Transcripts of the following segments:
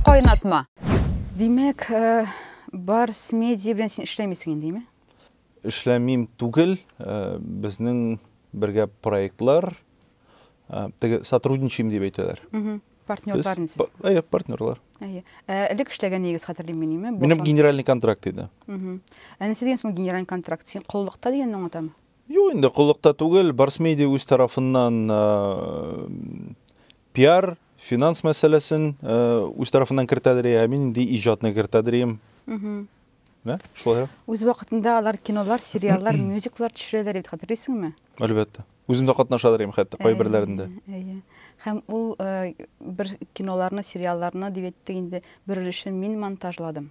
Кайнатма. Димәк, э, Барс медиа белән син эшләмисең инде, әйме? Эшләмим түгел, э, безнең бергә проектлар, э, теге сотрудничаем дип әйтәләр. Партнерлар инде. Әйе, партнерлар. Әйе. Э, элек эшләгән егез хәтерлим мин, әйме? Минем генеральный контракт иде. Әнесе дигән соң генеральный контракт. Син коллыкта дигәнне аңлатамы? Юк инде, коллыкта түгел. Барсмедиа үз тарафыннан пиар, финанс мәсьәләсен үз тарафыннан кертә дери, ә мин инде иҗатны кертә дирим. Менә шулай. Үз вакытында алар кинолар, сериаллар, мюзиклар төшерәләр бит, хәтерлисеңме? Әлбәттә. Үзем дә катнаша дирим хәтта кайберләрендә. Әйе. Һәм ул бер киноларны, сериалларны дип әйтте инде, бер өлешен мин монтажладым.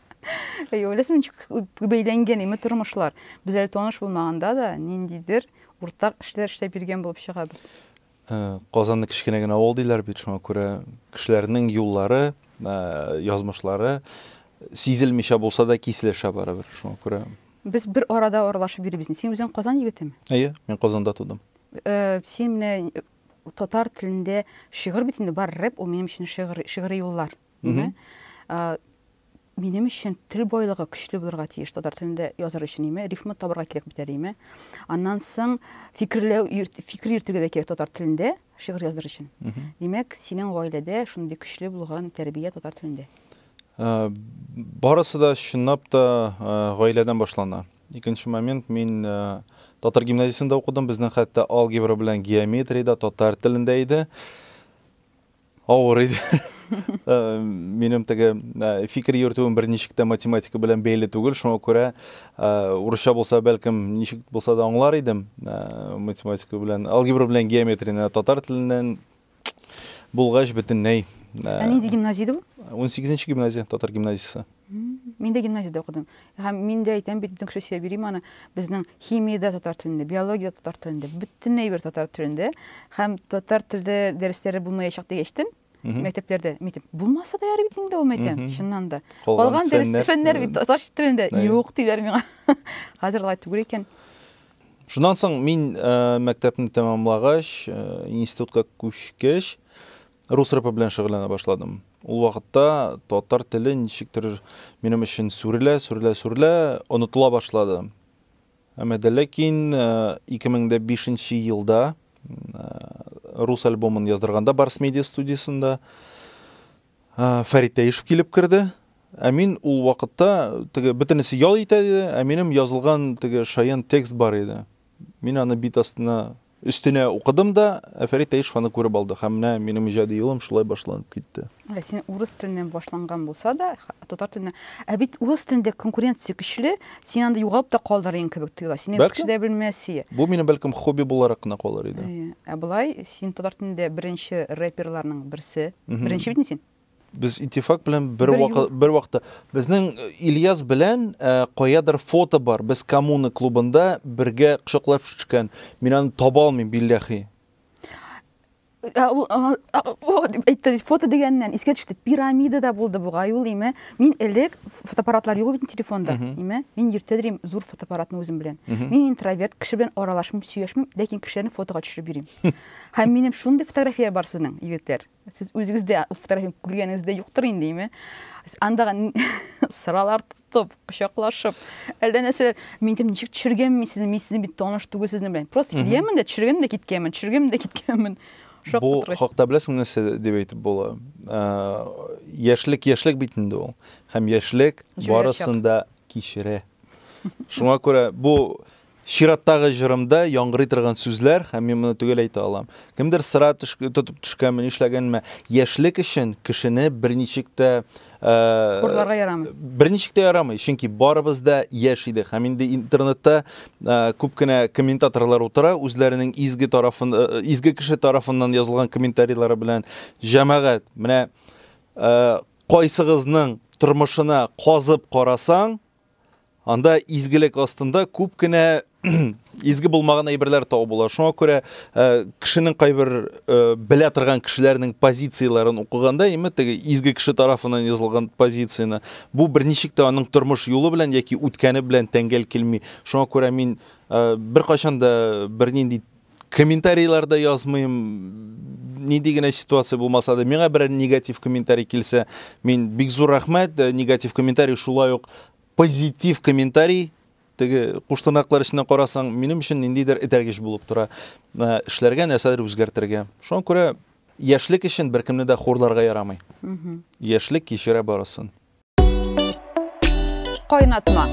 Әй, ойласам, ничек күп бәйләнгән име тормышлар. Без әле таныш булмаганда да ниндидер уртак эшләр эшләп йөргән булып чыгабыз. Ә, Казанны кечкенә генә авыл диләр бит, шуңа күрә кешеләрнең юллары, ә, язмышлары сизелмичә булса да киселешә барыбер. Шуңа күрә Без бер арада аралашып йөрибез. Син үзең Казан егетеме? Әйе, мин Казанда тудым. Э, Син менә татар телендә шигырь бит инде бар, рэп ул минем өчен шигырь, шигырь юллар. Ниме? Минем өчен тел байлыгы көчле булырга тиеш татар телендә языр өчен име? Рифмы табырга кирәк бит әле име? Аннан соң фикерләү, фикер йөртергә дә кирәк татар телендә шигырь языр өчен. Димәк, синең гаиләдә шундый көчле булган тәрбия татар телендә. Э, барысы да чынлап та э, гаиләдән башлана икенче момент мин э, татар гимназиясендә укыдым безнең хәтта алгебра белән геометрия да татар телендә иде Авыр иде. Э, минем теге э, фикер йөртүем берничек тә математика белән бәйле түгел, шуңа күрә э, урысча булса, бәлкем, ничек булса да аңлар идем математика белән. Алгебра белән геометрияне татар теленнән булгач бөтенләй. Ә нинди гимназия иде бу? 18 нче гимназия, татар гимназиясе. Мин дә гимназиядә укыдым. Һәм мин дә әйтәм бит, бөтен кеше сөйләп йөри моны. Безнең химиядә татар телендә, биологиядә татар телендә, бөтен әйбер татар телендә. Һәм татар телдә дәресләре булмаячак дигәчтен, мәктәпләрдә митеп булмаса да ярый бит инде ул мәйтәм чыннан да калган дөрес фәннәр бит татарча телендә юк диләр миңа хәзер алай түгел икән шуннан соң мин мәктәпне тәмамлагач институтка күчкәч Рус рэпы белән шөгыльләнә башладым. Ул вакытта татар теле ничектер минем өчен сүрелә, сүрелә, сүрелә, онытыла башлады. Әмма дә ләкин 2005 э, нче елда э, рус альбомын яздырганда Барс медиа студиясендә э, Фәрит Тәешев килеп керде. Ә мин ул вакытта теге бөтенесе ял итә иде, ә минем язылган теге шаян текст бар иде. Мин аны бит астына Өстенә укыдым да, ә Фәрит Таишев аны күреп алды һәм менә минем иҗади юлым шулай башланып китте. Ә син урыс теленнән башланган булса да, татар теленә, ә бит урыс телендә конкуренция көчле, син анда югалып та калдыр идең кебек тоела. Сине бер кеше дә белмәс ие. Бу минем бәлкем хобби буларак кына калыр иде. Ә болай син татар телендә беренче рэперларның берсе. Беренче бит инде син. Без Итифак белән бер бер вакытта безнең э, Ильяс белән э, каядыр фото бар. Без коммуна клубында бергә кочаклап төшкән. Мин аны таба алмыйм билләхи. Ә, ул әйтте фото дигәннән искә төште пирамида да булды бугай ул име мин элек фотоаппаратлар юк бит телефонда име мин иртә йөрим зур фотоаппаратны үзем белән мин интроверт кеше белән аралашмыйм сөйләшмим ләкин кешеләрне фотога төшереп йөрим һәм минем шундый фотография бар сезнең егетләр Сез үзегез дә ул фотографияне күргәнегез дә юктыр инде, име? Андагы сыралар тотып, кочаклашып, әллә нәрсә, мин дим, ничек төшергәнмен сезне, мин сезне бит таныш түгел сезнең белән. Просто килгәнмен дә, төшергәнмен дә киткәнмен, төшергәнмен дә киткәнмен. Бу хакта беләсеңме нәрсә дип әйтеп була? Яшьлек, яшьлек бит инде ул. Һәм яшьлек барысын да кичерә. Шуңа күрә бу Чираттагы җырымда яңгырый торган сүзләр, һәм мин моны төгәл әйтә алам. Кемдер сыра тотып төшкәнме, нишләгәнме, яшьлек өчен кешене берничек тә, Хурларга ярамый. берничек тә ярамый, чөнки барыбыз да яшь идек, һәм инде интернетта күп кенә комментаторлар утыра, үзләренең изге тарафын, изге кеше тарафыннан язылган комментарийлары белән, җәмәгать, менә кайсыгызның тормышына казып карасаң, Анда изгелек астында күп кенә изге булмаган әйберләр табу була. Шуңа күрә э, кешенең кайбер э, белә торган кешеләрнең позицияләрен укыганда, яме теге изге кеше тарафыннан язылган позицияне, бу берничек тә аның тормыш юлы белән яки үткәне белән тәңгәл килми. Шуңа күрә мин э, беркайчан да бернинди Комментарийларда язмыйм, нинди генә ситуация булмаса да, миңа берәр негатив комментарий килсә, мин бик зур рәхмәт, э, негатив комментарий шулай ук позитив комментарий теге куштырнаклар эченнән карасаң, минем өчен ниндидер этәргеч булып тора. Э, эшләргә нәрсәдер үзгәртергә. Шуңа күрә яшьлек өчен беркемне дә хурларга ярамый. Яшьлек кичерә барысын. Кайнатма.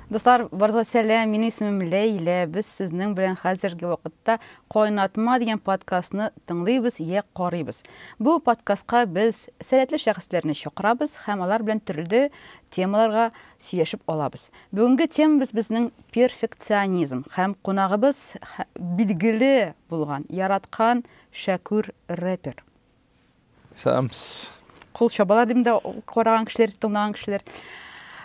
Дуслар, барыгызга сәлам. Минем исемем Ләйлә. Без сезнең белән хәзерге вакытта Кайнатма дигән подкастны тыңлыйбыз я карыйбыз. Бу подкастка без сәләтле шәхесләрне чакырабыз һәм алар белән төрле темаларга сөйләшеп алабыз. Бүгенге темабыз безнең перфекционизм һәм кунагыбыз билгеле булган, яраткан Шәкүр рэпер. Сәмс. Кул чабалар дим дә караган кешеләр, тыңлаган кешеләр.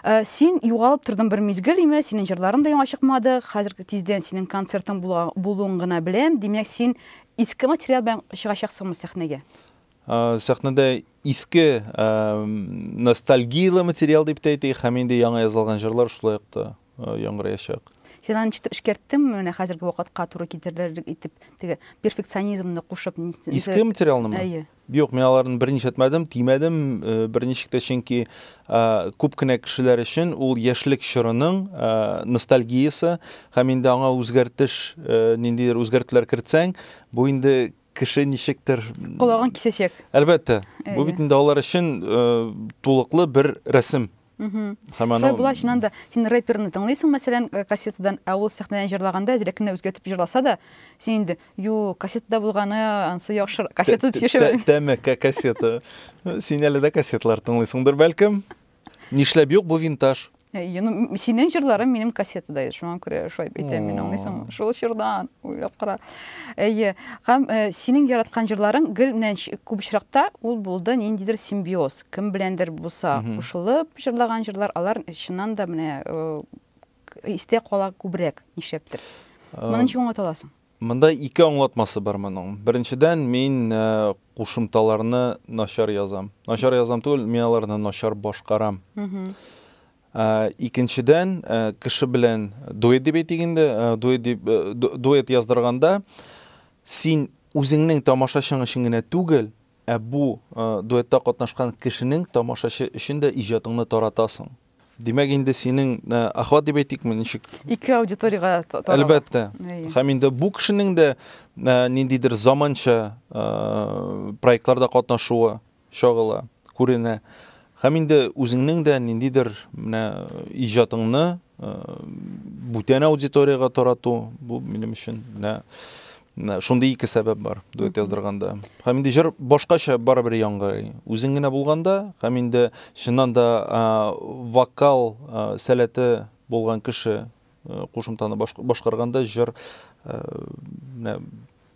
Э, син югалып тордың бер мизгел име синең җырларың да яңа чыкмады хәзер тиздән синең концертың булуын гына беләм димәк син иске материал белән чыгачаксыңмы сәхнәгә э, сәхнәдә иске э, ностальгияле материал дип тә әйтик һәм инде яңа язылган җырлар шулай ук та яңгыраячак. Син аны ничектер эшкәрттеңме менә хәзерге вакытка туры китерерлек итеп, теге перфекционизмны кушып? Иске материалны ма? Әйе. Юк, мин аларны берни эшләтмәдем, тимәдем, э, берничек тә, чөнки э, күп кенә кешеләр өчен ул яшьлек чорының э, ностальгиясе һәм инде аңа үзгәртеш, ниндидер үзгәртүләр кертсәң, бу инде кеше ничектер Колагын кисәчәк. Әлбәттә. Бу бит инде алар өчен тулыклы бер рәсем. Һәм анау... Шулай була, чыннан да, син рэперны тыңлыйсың, мәсәлән, э, кассетадан, ә ул сәхнәдән җырлаганда әзрәк кенә үзгәртеп җырласа да, син инде, юк, кассетада булганы ансы яхшы, кассета дип сөйләшә. Тәмәк кассета. Син әле дә кассеталар тыңлыйсыңдыр, бәлкем. Нишләп юк, бу винтаж. Э, ну, синең җырларың минем кассетада иде, шуңа күрә шулай әйтәм мин, аңлыйсыңмы? Шул чордан, уйлап кара. Әйе, һәм э, синең яраткан җырларың гел менә күп очракта ул булды ниндидер симбиоз. Кем беләндер булса кушылып җырлаган җырлар, алар чыннан да менә истә кала күбрәк, нишләптер. Моны ничек аңлаталасың? Монда ике аңлатмасы бар моның. Беренчедән, мин кушымталарны начар язам. Начар язам түгел, мин аларны начар башкарам. Икенчедән, кеше белән дуэт дип әйтик инде, дуэт дип дуэт яздырганда син үзеңнең тамашачың өчен генә түгел, Ә бу дуэтта катнашкан кешенең тамашачы өчен дә иҗатыңны таратасың. Димәк, инде синең охват дип әйтикме, ничек? Ике аудиториягә тарала. Әлбәттә. Һәм инде бу кешенең дә ниндидер заманча проектларда катнашуы чагыла, күренә. Һәм инде үзеңнең дә ниндидер менә иҗатыңны Бүтән аудиториягә тарату, бу минем өчен менә шундый ике сәбәп бар дуэт яздырганда. Һәм инде җыр башкача барыбер яңгырый. Үзең генә булганда һәм инде чыннан да вокал сәләте булган кеше кушымтаны башкарганда җыр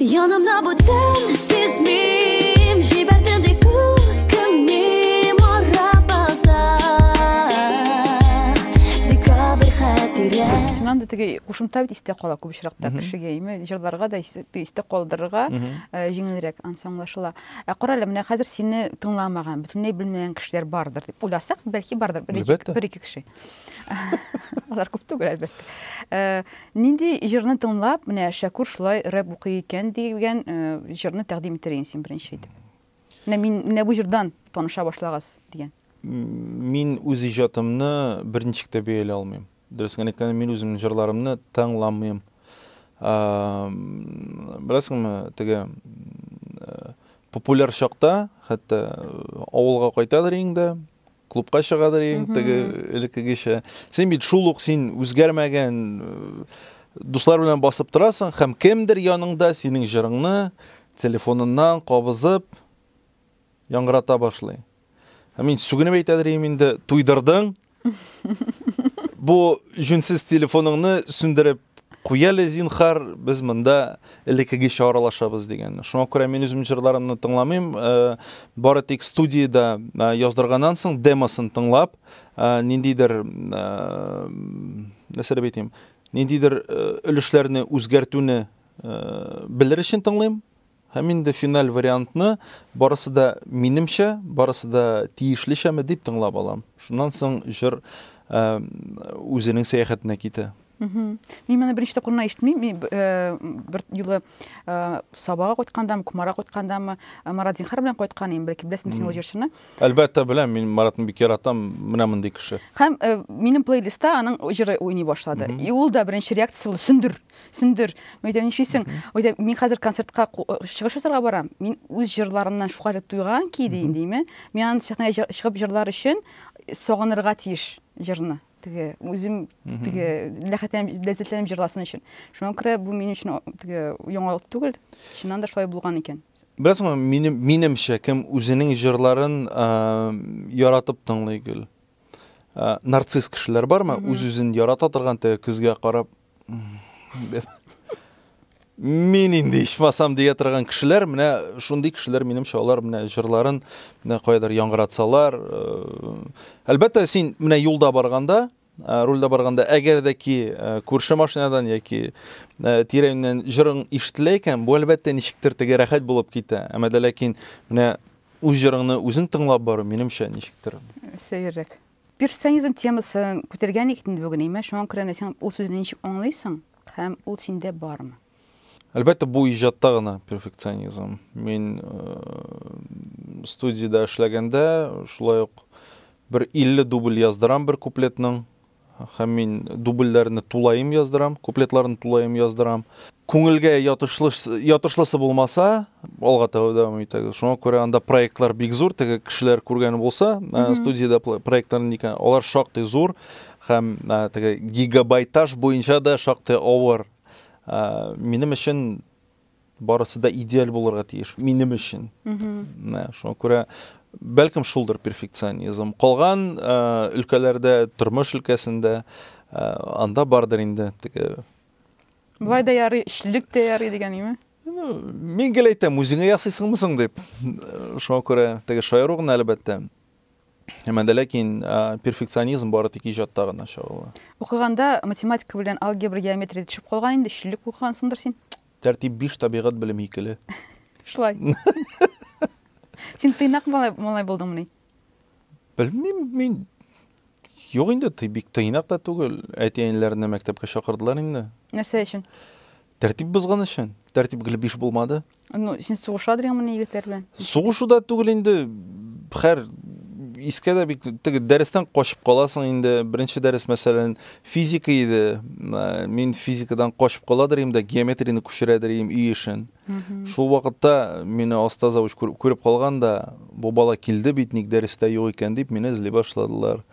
Янымда бу төн сизмим Җибәрдем ди күкемне марапазда Декабрь хәтирә Шуннан да теге кушымта бит истә кала күп очракта кешегә име җырларга да истә калдырырга э, җиңелрәк ансы аңлашыла. Ә карале, менә хәзер сине тыңламаган, бөтенләй белмәгән кешеләр бардыр дип уйласак, бәлки бардыр бер-ике кеше. Алар күп түгел, әлбәттә. Э, нинди җырны тыңлап, менә Шәкүр шулай рэп укый икән дигән э, җырны тәкъдим итер идең син беренче итеп? Менә мин менә бу җырдан таныша башлагыз дигән. Мин үз иҗатымны берничек тә бәяли алмыйм. Дөресен әйткәндә, мин үземнең җырларымны тыңламыйм. Э, беләсеңме, теге популяр чакта, хәтта авылга кайтадыр инде, Клубка чыгадыр иң теге элеккегечә. Син бит шул ук син үзгәрмәгән дуслар белән басып торасың һәм кемдер яныңда синең җырыңны телефоныннан кабызып яңгырата башлый. Ә мин сүгенеп әйтәдер идем инде, туйдырдың. Бу җүнсез телефоныңны сүндереп Куяле, зинхар, без монда элеккегечә аралашабыз дигән. Шуңа күрә мин үзем җырларымны тыңламыйм, э, бары тик студиядә э, яздырганнан соң демосын тыңлап, э, ниндидер нәрсә дип әйтим, ниндидер өлешләрне үзгәртүне белер өчен тыңлыйм. Һәм инде финаль вариантны барысы да минемчә, барысы да тиешлечәме дип тыңлап алам. Шуннан соң җыр үзенең сәяхәтенә китә. Мин моны беренче тапкыр гына ишетмим. Мин бер юлы Сабага кайткандамы, Кумара кайткандамы, Марат Зинхар белән кайткан идем, бәлки беләсең син ул җырчыны. Әлбәттә беләм, мин Маратны бик яратам, менә мондый кеше. Һәм минем плейлистта аның җыры уйный башлады. И ул да беренче реакциясе булды, сөндер. Сүндер, мәйдә нишисең? Мәйдә, мин хәзер концертка чыгыш ясарга барам. Мин үз җырларымнан шулкадәр туйган ки, дим, диме? Мин аны сәхнәгә чыгып җырлар өчен сагынырга тиеш җырны. Теге үзем теге ләхәтләнеп ләззәтләнеп җырласын өчен. Шуңа күрә бу минем өчен теге яңалык түгел. Чыннан да шулай булган икән. Беләсеңме, минем минемчә кем үзенең җырларын яратып тыңлый гел. Нарцисс кешеләр бармы? Үз-үзен ярата торган, теге көзгә карап, мин инде ичмасам дия торган кешеләр менә шундый кешеләр минемчә алар менә җырларын менә каядыр яңгыратсалар э, әлбәттә син менә юлда барганда э, рульда барганда әгәр дә ки э, күрше машинадан яки тирәннән җырың ишетелә икән бу әлбәттә ничектер теге рәхәт булып китә әмма дә ләкин менә үз җырыңны үзең тыңлап бару минемчә ничектер сәеррәк Перфекционизм темасын күтәргән икән инде бүген, әйме? Шуңа күрә менә син ул сүзне ничек аңлыйсың һәм ул синдә бармы? Әлбәттә, бу иҗатта гына перфекционизм. Мин студиядә эшләгәндә, шулай ук бер 50 дубль яздырам бер куплетның һәм мин дубльләрне тулаем яздырам, куплетларны тулаем яздырам. Күңелгә ятышлысы булмаса, алга таба дәвам итәгез. Шуңа күрә анда проектлар бик зур, теге кешеләр күргән булса, э, студиядә проектлар никә, алар шактый зур һәм э, теге гигабайтаж буенча да шактый авыр. Э, минем өчен барысы да идеаль булырга тиеш, минем өчен. Шуңа күрә бәлкем шулдыр перфекционизм. Калган өлкәләрдә, тормыш өлкәсендә анда бардыр инде теге Болай да ярый, эчлек тә ярый дигән име? Мин гел әйтәм, үзеңә ясыйсыңмы соң дип. Шуңа күрә теге шаяру гына әлбәттә. Әмма дә ләкин перфекционизм бары тик иҗатта гына чагыла. Укыганда математика белән алгебра, геометрия төшеп калган инде, эчлек укыгансыңдыр син? Тәртип 5 табигать белем икеле. Шулай. Син тыйнак малай булдыңмыни? Белмим, мин Юк инде, ты бик тыйнак та түгел. Әти-әниләрне мәктәпкә чакырдылар инде. Нәрсә өчен? Тәртип бозган өчен. Тәртип гел биш булмады. Ну, син сугыша дигәнмени егетләр белән? Сугышу да түгел инде. Хәр искә дә бик теге дәрестән качып каласың инде. Беренче дәрес мәсәлән физика иде. Мин физикадан качып каладыр инде, геометрияне күчерәдер идем өй эшен. Шул вакытта мине оста завуч күреп калган да, бу бала килде бит, ник дәрестә юк икән дип, мине эзли башладылар.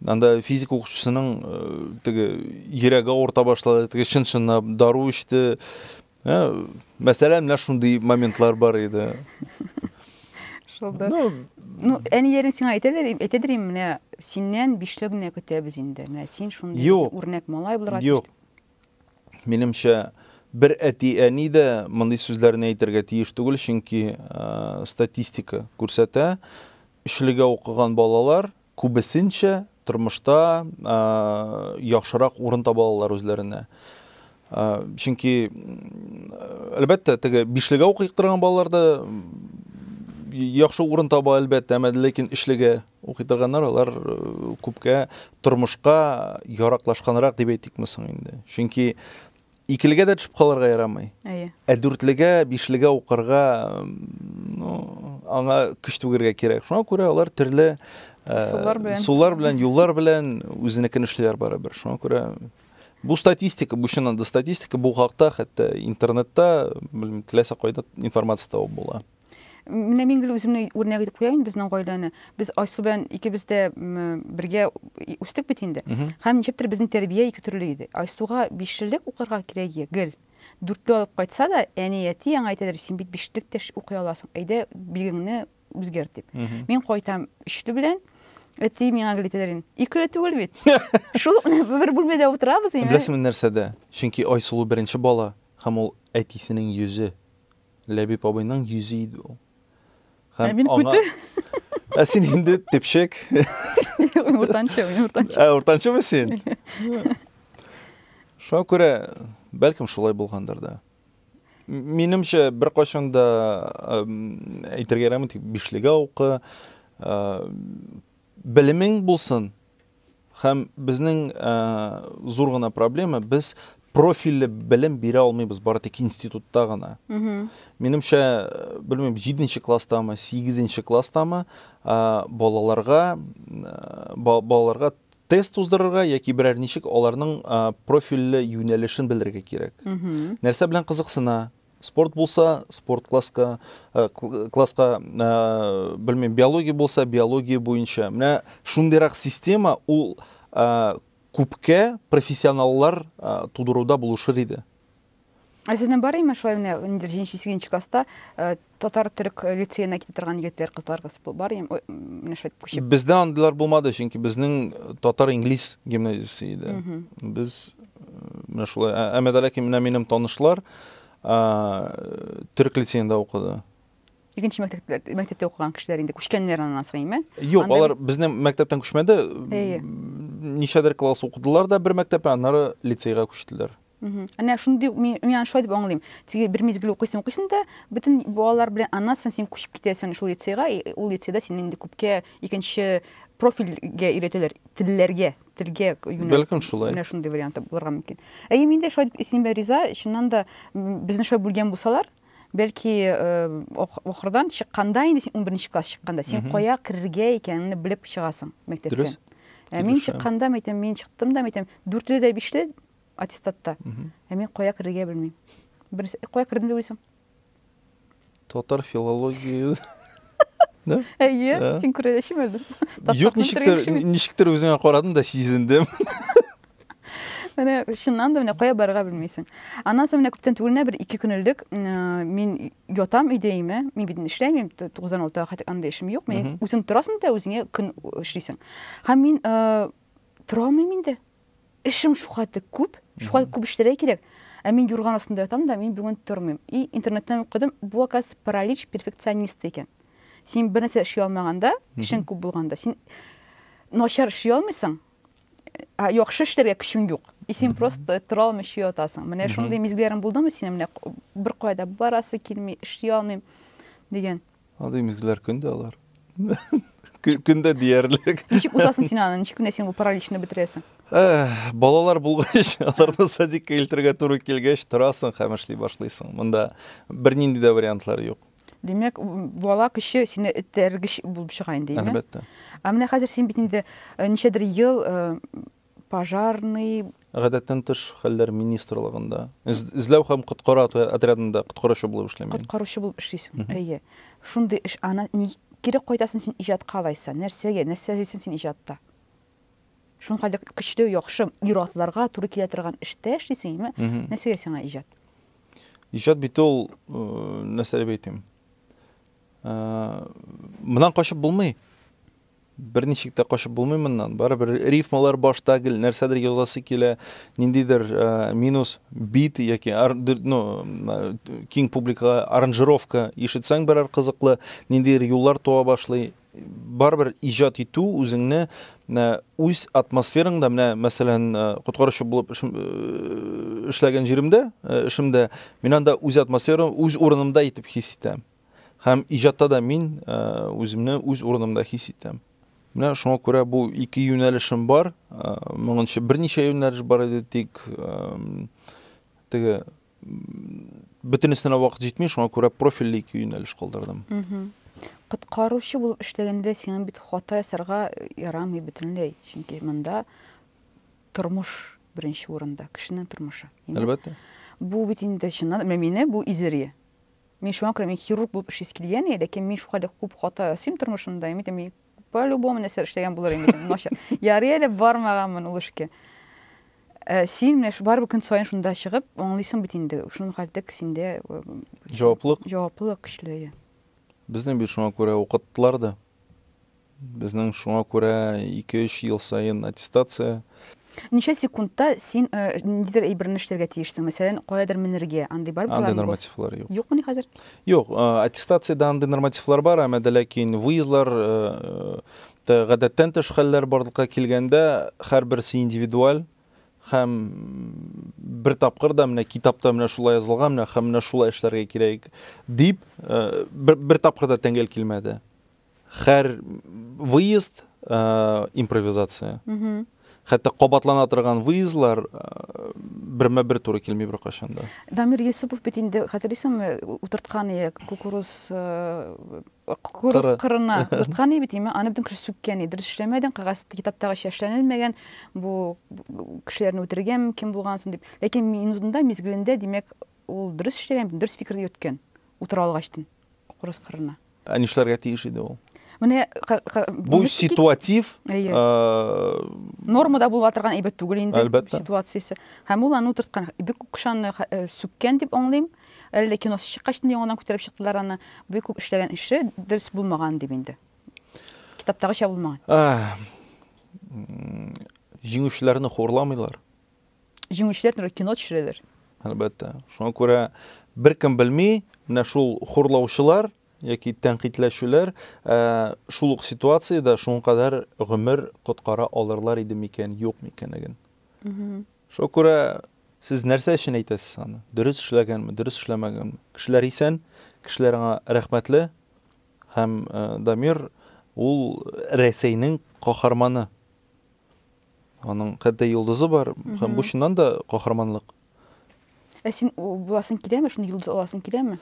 Анда физик укытучысының э, теге йөрәге авырта башлады, теге чын-чынлап дару эчте. Ә, мәсәлән, менә шундый моментлар бар иде. Шулда. Ну, ну әниерин сиңа әйтәдер, әйтәдер инде, менә синнән бишле генә көтәбез инде. Менә син шундый үрнәк малай булырга тиеш. Юк. Минемчә, бер әти-әни дә мондый сүзләрне әйтергә тиеш түгел, чөнки статистика күрсәтә, өчлегә укыган балалар күбесенчә тормышта яхшырак урын таба алалар үзләренә. Чөнки, әлбәттә, теге бишлегә укыйк торган балалар да яхшы урын таба, әлбәттә, әмма ләкин өчлегә Укый торганнар алар күпкә тормышка яраклашканрак дип әйтикме соң инде. Чөнки икелегә дә төшеп калырга ярамый. Әйе. Ә дүртлегә, бишлегә укырга, ну, аңа көч түгергә кирәк. Шуңа күрә алар төрле э, сулар белән, юллар белән үзенекен эшлиләр барыбер. Шуңа күрә бу статистика, бу чыннан да статистика, бу хакта хәтта интернетта, белмим, теләсә кайда информация табып була. Менә мин гел үземне үрнәк итеп куям инде безнең гаиләне. Без Айсу белән икебез дә бергә үстек бит инде. Һәм ничектер безнең тәрбия ике төрле иде. Айсуга бишлелек укырга кирәк иде гел. Дүртле алып кайтса да, әни әти аңа әйтәдер, син бит бишлек тә укый аласың. Әйдә, билгеңне үзгәр дип. Мин кайтам өчле белән. Әти миңа гел әйтәдер инде. Икеле түгел бит. Шул бер бүлмәдә утырабыз инде. Беләсеңме нәрсәдә? Чөнки Айсылу беренче бала һәм ул әтисенең йөзе. Ләбиб абыйның йөзе иде ул. Ә мин күте. Ә син инде тепшек. Уртанчы, мин уртанчы. Ә уртанчымы син? Шуңа күрә, бәлкем шулай булгандыр да. Минемчә, бер кайчан да әйтергә ярамый, тик бишлегә укы, Белемең булсын һәм безнең зур гына проблема, без профильле белем бирә алмыйбыз, бары тик институтта гына. Минемчә, белмим, 7нче класстамы, 8нче класстамы балаларга балаларга тест уздырырга яки берәр ничек аларның профильле юнәлешен белергә кирәк. Нәрсә белән кызыксына, Спорт булса, спорт класска, э, класска, э, белмим, биология булса, биология буенча. Менә шундыйрак система ул э, күпкә профессионаллар тудыруда булышыр иде. Ә сезнең бар име шулай менә инде 7-8 класста татар төрек лицеена китә торган егетләр, кызларыбыз бар име? Менә шулай күчеп. Бездә андыйлар булмады, чөнки безнең татар-инглиз гимназиясе иде. Без Менә шулай. Ә- Әмәт Алякин менә минем танышлар ә, төрек лицеенда укыды. Икенче мәктәптә, мәктәптә укыган кешеләр инде күчкәннәр аннан соң, әйме? Юк, Анда- алар безнең мәктәптән күчмәде. Әйе. М, Ничәдер класс укыдылар да бер мәктәптә, аннары лицейга күчтеләр. Мгм. Әнә шундый мин мин аны шулай дип аңлыйм. Теге бер мизгел укыйсың, укыйсың да, бөтен балалар белән аннан соң син күчеп китәсең шул лицейга, и ул лицейда сине инде күпкә икенче профильгә өйрәтәләр, телләргә. телгә юнәлтү. Бәлкем шулай. Менә шундый варианты булырга мөмкин. Әйе, мин дә шулай синең белән риза. Чыннан да безне шулай бүлгән булсалар, бәлки ахырдан чыкканда инде син 11 класс чыкканда син кая керергә икәнеңне белеп чыгасың мәктәптән. Дөрес. Ә мин чыкканда, мәйтәм, мин чыктым да, мәйтәм, дүртле дә бишле аттестатта. Ә мин кая керергә белмим. Беренче кая кердем дип уйлыйсың? Татар филология Да? Әйе, ә? син күрәдәшем әле. Юк, ничектер, ничектер үзеңә карадым да сизендем. Менә чыннан да менә кая барырга белмисең. Аннан соң менә күптән түгел бер ике көн элек мин ятам өйдә име, мин бит эшләмим, 96-га хәтер анда эшем юк. Мин үзең торасың да үзеңә көн эшлисең. Һәм мин тора алмыйм инде. Эшем шукаты күп, шукаты күп эшләргә кирәк. Ә мин юрган астында ятам да, мин бүген тормыйм. И интернеттан укыдым, бу аказ паралич перфекционисты икән. Син бер нәрсә эшли алмаганда, эшең күп булганда, син начар эшли алмыйсың, ә яхшы эшләргә көчең юк. И син просто тора алмыйча ятасың. Менә шундый мизгелләрең булдымы синең менә бер кая да барасы килми, эшли алмыйм дигән. Андый мизгелләр көн дә алар. Көн дә диярлек. Ничек узасың син аны? Ничек кенә син бу параличны бетерәсең? Э, балалар булгач, аларны садикка илтергә туры килгәч, торасың һәм эшли башлыйсың. Монда бернинди дә вариантлар юк. Димәк, бала көче сине этәргеч булып чыга инде, әйме? Әлбәттә. Ә менә хәзер син бит инде э, ничәдер ел э, пожарный, Гадәттән тыш хәлләр министрлыгында, эзләү һәм коткару отрядында коткаручы булып эшлим мин. Коткаручы булып эшлисең, әйе. Шундый эш, аннан ни кире кайтасың син иҗатка алайса? Нәрсәгә, нәрсә эзлисең син иҗатта? Шуның кадәр көчле, яхшы, ир-атларга туры килә торган эштә эшлисеңме? Нәрсәгә сиңа иҗат? Иҗат бит ул, нәрсә дип әйтим? Моннан качып булмый. Берничек тә качып булмый моннан. Барыбер рифмалар башта гел нәрсәдер язасы килә, ниндидер э, минус бит яки ну, киң публикага аранжировка ишетсәң берәр кызыклы, ниндидер юллар туа башлый. Барыбер иҗат итү үзеңне э, үз атмосфераңда, менә мәсәлән, э, коткаручы булып эшләгән җиремдә, эшемдә, мин анда үз атмосферам, үз урынымда итеп хис итәм. Һәм иҗатта да мин үземне үз урынымда хис итәм. Менә шуңа күрә бу ике юнәлешем бар. Моңынчы берничә юнәлеш бар иде, тик теге бөтенесенә вакыт җитми, шуңа күрә профильле ике юнәлеш калдырдым. Коткаручы булып эшләгәндә сиңа бит хата ясарга ярамый бөтенләй, чөнки монда тормыш беренче урында, кешенең тормышы. Әлбәттә. Бу бит инде чыннан, менә мине бу изерие. Мин шуңа күрә мин хирург булып эшлисе килгән иде, ләкин мин шука дәк күп хата ясыйм тормышымда, мин әйтәм, по-любому нәрсәләр эшләгән булыр инде, начар. Ярый әле бармаганмын ул эшкә. Э, син менә барыбер көн саен шунда чыгып, аңлыйсың бит инде, шуның хәтлек синдә э, җаваплылык. Җаваплылык көчле. Безне бит шуңа күрә укыттылар да. Безнең шуңа күрә 2-3 ел саен аттестация. Ничә секундта син э, ниндидер әйберне эшләргә тиешсең? Мәсәлән, каядыр менергә, андый бар Андый нормативлар юк. Юкмы ни хәзер? Юк, э, аттестациядә андый нормативлар бар, әмма дә ләкин выездлар э, гадәттән тыш хәлләр барлыкка килгәндә һәрберсе индивидуаль һәм бер тапкыр да менә китапта менә шулай язылган менә һәм менә шулай эшләргә кирәк дип бер, бер тапкыр да тәңгәл килмәде һәр выезд ә, импровизация хәтта кабатлана торган выездлар э, бермә бер туры килми беркайчан да дамир йосыпов бит инде хәтерлисеңме утырткан ие кукуруз э, кукуруз кырына утырткан ие бит име аны бөтен кеше сүккән ие дөрес эшләмәдең кәгазь китаптагы чәшләнелмәгән бу кешеләрне үтергән кем булгансың дип ләкин минутында мизгелендә димәк ул дөрес эшләгән дөрес фикерне йөрткән утыра алгачтын кукуруз кырына. Ә нишләргә тиеш иде ул? Менә бу ситуатив нормада булып торган әйбәт түгел инде ситуациясе. Һәм ул аны утырткан. Бик күп кышанны сүккән дип аңлыйм. Әллә киносы чыккач инде яңадан күтәреп чыктылар аны. Бик күп эшләгән эше дөрес булмаган дип инде. Китаптагыча булмаган. Җиңүчеләрне хурламыйлар. җиңүчеләр турында кино төшерәләр. Әлбәттә. Шуңа күрә беркем белми, менә шул хурлаучылар яки тәнкыйтьләшүләр ә, шул ук ситуациядә шуңа кадәр гомер коткара алырлар иде микән, юк микәнлеген. Шуңа күрә сез нәрсә өчен әйтәсез аны? Дөрес эшләгәнме, дөрес эшләмәгәнме? Кешеләр исән, кешеләр аңа рәхмәтле һәм ә, Дамир ул Рәсәйнең каһарманы. Аның хәтта йолдызы бар, һәм бу чыннан да каһарманлык. Ә син буласың киләме, шуны йолдыз аласың киләме?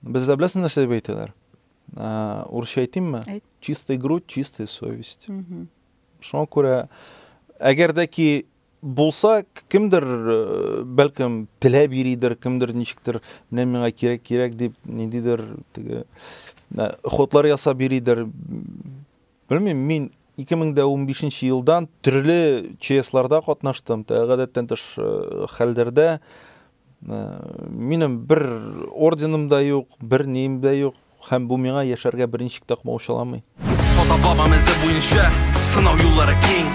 Бездә беләсең нәрсә дип әйтәләр? Урысча әйтимме? Әйт. Чистый грудь, чистая совесть. Шуңа күрә, әгәр дә ки булса, кемдер, э, бәлкем, теләп йөридер, кемдер ничектер, менә миңа кирәк, кирәк дип, ниндидер теге хотлар ясап йөридер. Белмим, мин 2015 нче елдан төрле ЧСларда катнаштым, тә гадәттән тыш э, хәлдәрдә. Э, минем бер орденым да юк, бер нием дә юк, һәм бу миңа яшәргә берничек тә комаучаламый. Ата бабам эзе буенча сынау юллары киң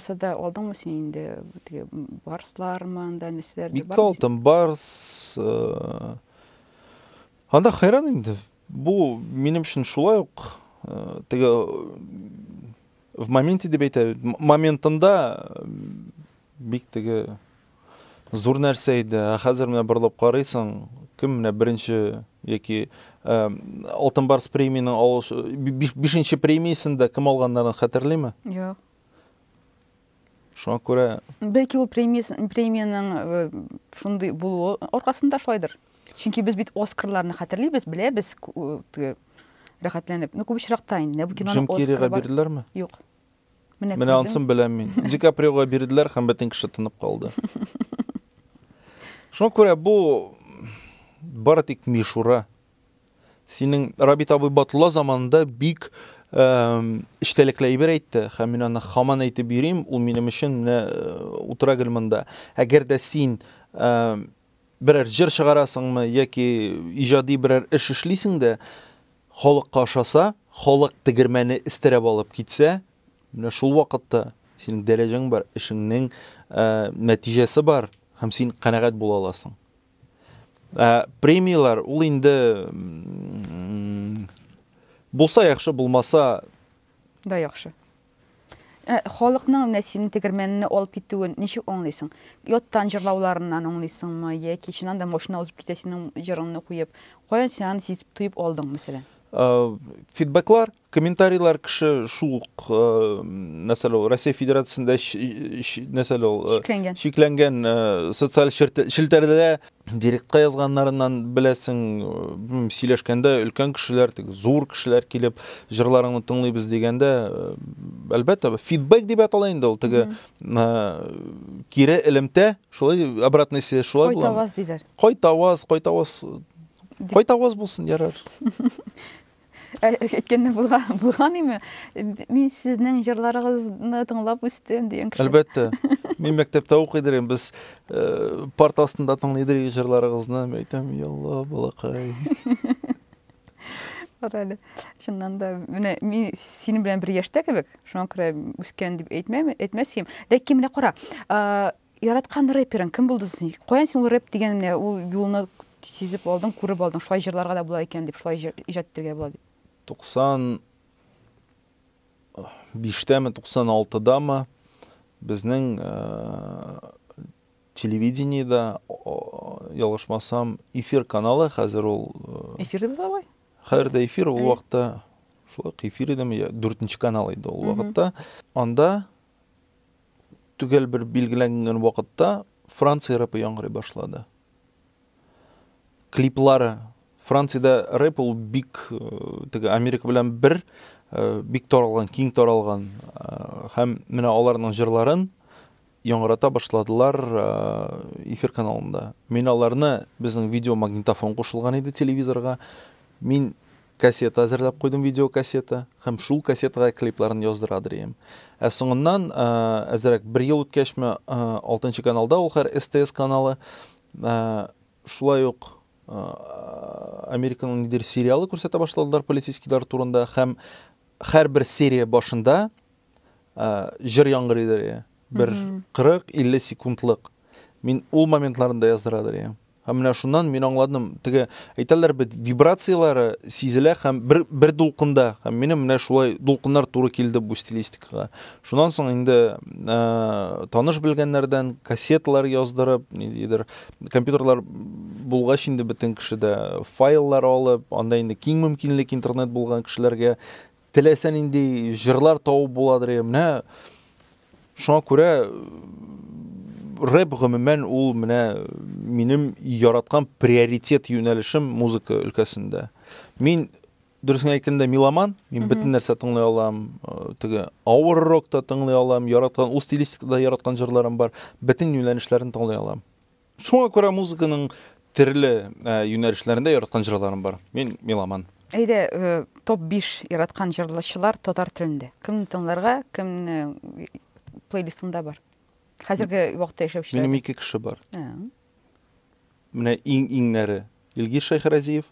Сада алдыңмы син инде теге барслармы анда нәрсәләр Бик тә алдым барс. Э, анда хәйран инде. Бу минем өчен шулай ук э, теге в моменте дип әйтә. Моментында э, бик теге зур нәрсә иде. Ә хәзер менә борылып карыйсың, кем менә беренче яки Алтын барс премиянең 5нче премиясен дә кем алганнарын хәтерлиме? Юк. Шуңа күрә... Бәлки ул премиянең э, шундый булуы аркасында шулайдыр. Чөнки без бит Оскарларны хәтерлибез, беләбез э, рәхәтләнеп. Ну, күп очракта инде. Менә бу киноның Джим Керрига бирделәрме? Юк. Менә Менә ансын беләм мин. Ди Каприога бирделәр һәм бөтен кеше тынып калды. Шуңа күрә бу бары тик мишура. Синең Рабит абый Батулла заманында бик эчтәлекле әйбер әйтте, һәм мин аны хаман әйтеп йөрим, ул минем өчен менә утыра гел монда. Әгәр дә син берәр җыр чыгарасыңмы яки иҗади берәр эш эшлисең дә, халыкка ошаса, халык тегермәне эстерәп алып китсә, менә шул вакытта синең дәрәҗәң бар, эшеңнең нәтиҗәсе бар һәм син канәгать була аласың. Ә, премияләр ул инде булса яхшы, булмаса да яхшы. Ә, халыкның менә синең тегермәнне алып китүен ничек аңлыйсың? Яттан җырлауларыннан аңлыйсыңмы, яки чыннан да машина узып китә синең җырыңны куеп? Каян син аны сизеп, тоеп алдың, мәсәлән? фидбэклар, комментарийлар кеше шул ук нәрсәле ул Россия Федерациясендә нәрсәле ул шикләнгән, шикләнгән социаль челтәрдә директка язганнарыннан беләсең, сөйләшкәндә өлкән кешеләр, зур кешеләр килеп җырларыңны тыңлыйбыз дигәндә, әлбәттә, фидбэк дип атала инде ул теге кире элемтә, шулай обратная связь шулай була. Кайтаваз диләр. Кайтаваз, кайтаваз Кайт аваз булсын, ярар. Әйткәндә булган, булган име? Мин сезнең җырларыгызны тыңлап үстем дигән кеше. Әлбәттә. Мин мәктәптә укый идем, без э, парт астында тыңлый идек җырларыгызны. Мин әйтәм, ялла, балакай. Бар әле. Чыннан да, менә мин синең белән бер яшьтә кебек, шуңа күрә үскән дип әйтмәм, әйтмәсем. Ләкин менә кара, Яраткан рэперың кем булды соң? Каян син ул рэп дигән менә ул юлны сизеп алдың, күреп алдың, шулай җырларга да була икән дип, шулай җыр иҗат итәргә була дип? 95тәме, 96дамы безнең телевидениедә, ялгышмасам, эфир каналы, хәзер ул... Эфир дип була бай? Хәзер дә эфир, ул вакытта шулай эфир идеме, дүртенче канал иде ул вакытта. Анда төгәл бер билгеләнгән вакытта Франция рэпы яңгырый башлады. Клиплары Франциядә рэп ул бик э, теге Америка белән бер э, бик таралган, киң таралган э, һәм менә аларның җырларын яңгырата башладылар эфир каналында. Мин аларны безнең видеомагнитофон кушылган иде телевизорга. Мин Кассета әзерләп куйдым, видеокассета, һәм шул кассетага клипларын яздыра дрием. Ә соңыннан, әзерәк бер ел үткәчме, алтынчы каналда, ул хәр СТС каналы, шулай ук Американың нидер сериалы күрсәтә башладылар полицейскийлар турында һәм һәрбер серия башында җыр яңгырый дә бер 40-50 секундлык. Мин ул моментларында яздыра дә Һәм менә шуннан мин аңладым, теге әйтәләр бит, вибрацияләре сизелә һәм бер бер дулкында. Һәм минем менә шулай дулкыннар туры килде бу стилистикага. Шуннан соң инде ә, таныш белгәннәрдән кассеталар яздырып, ниндидер компьютерлар булгач инде бөтен кеше дә файллар алып, анда инде киң мөмкинлек интернет булган кешеләргә Теләсә нинди җырлар табып буладыр иде. Менә шуңа күрә рэп гомумән ул менә минем яраткан приоритет юнәлешем музыка өлкәсендә. Мин дөресен әйткәндә меломан, мин бөтен нәрсә тыңлый алам, э, теге авыр рок та тыңлый алам, яраткан ул стилистикада яраткан җырларым бар, бөтен юнәлешләрен тыңлый алам. Шуңа күрә музыканың төрле юнәлешләрендә яраткан җырларым бар. Мин меломан. Әйдә, топ 5 яраткан җырлаучылар татар телендә. Кемне тыңларга, кемне плейлистыңда бар? Хәзерге вакытта яшәүчеләр. Минем ике кеше бар. Менә иң-иңнәре. Илгиз Шәйхразиев.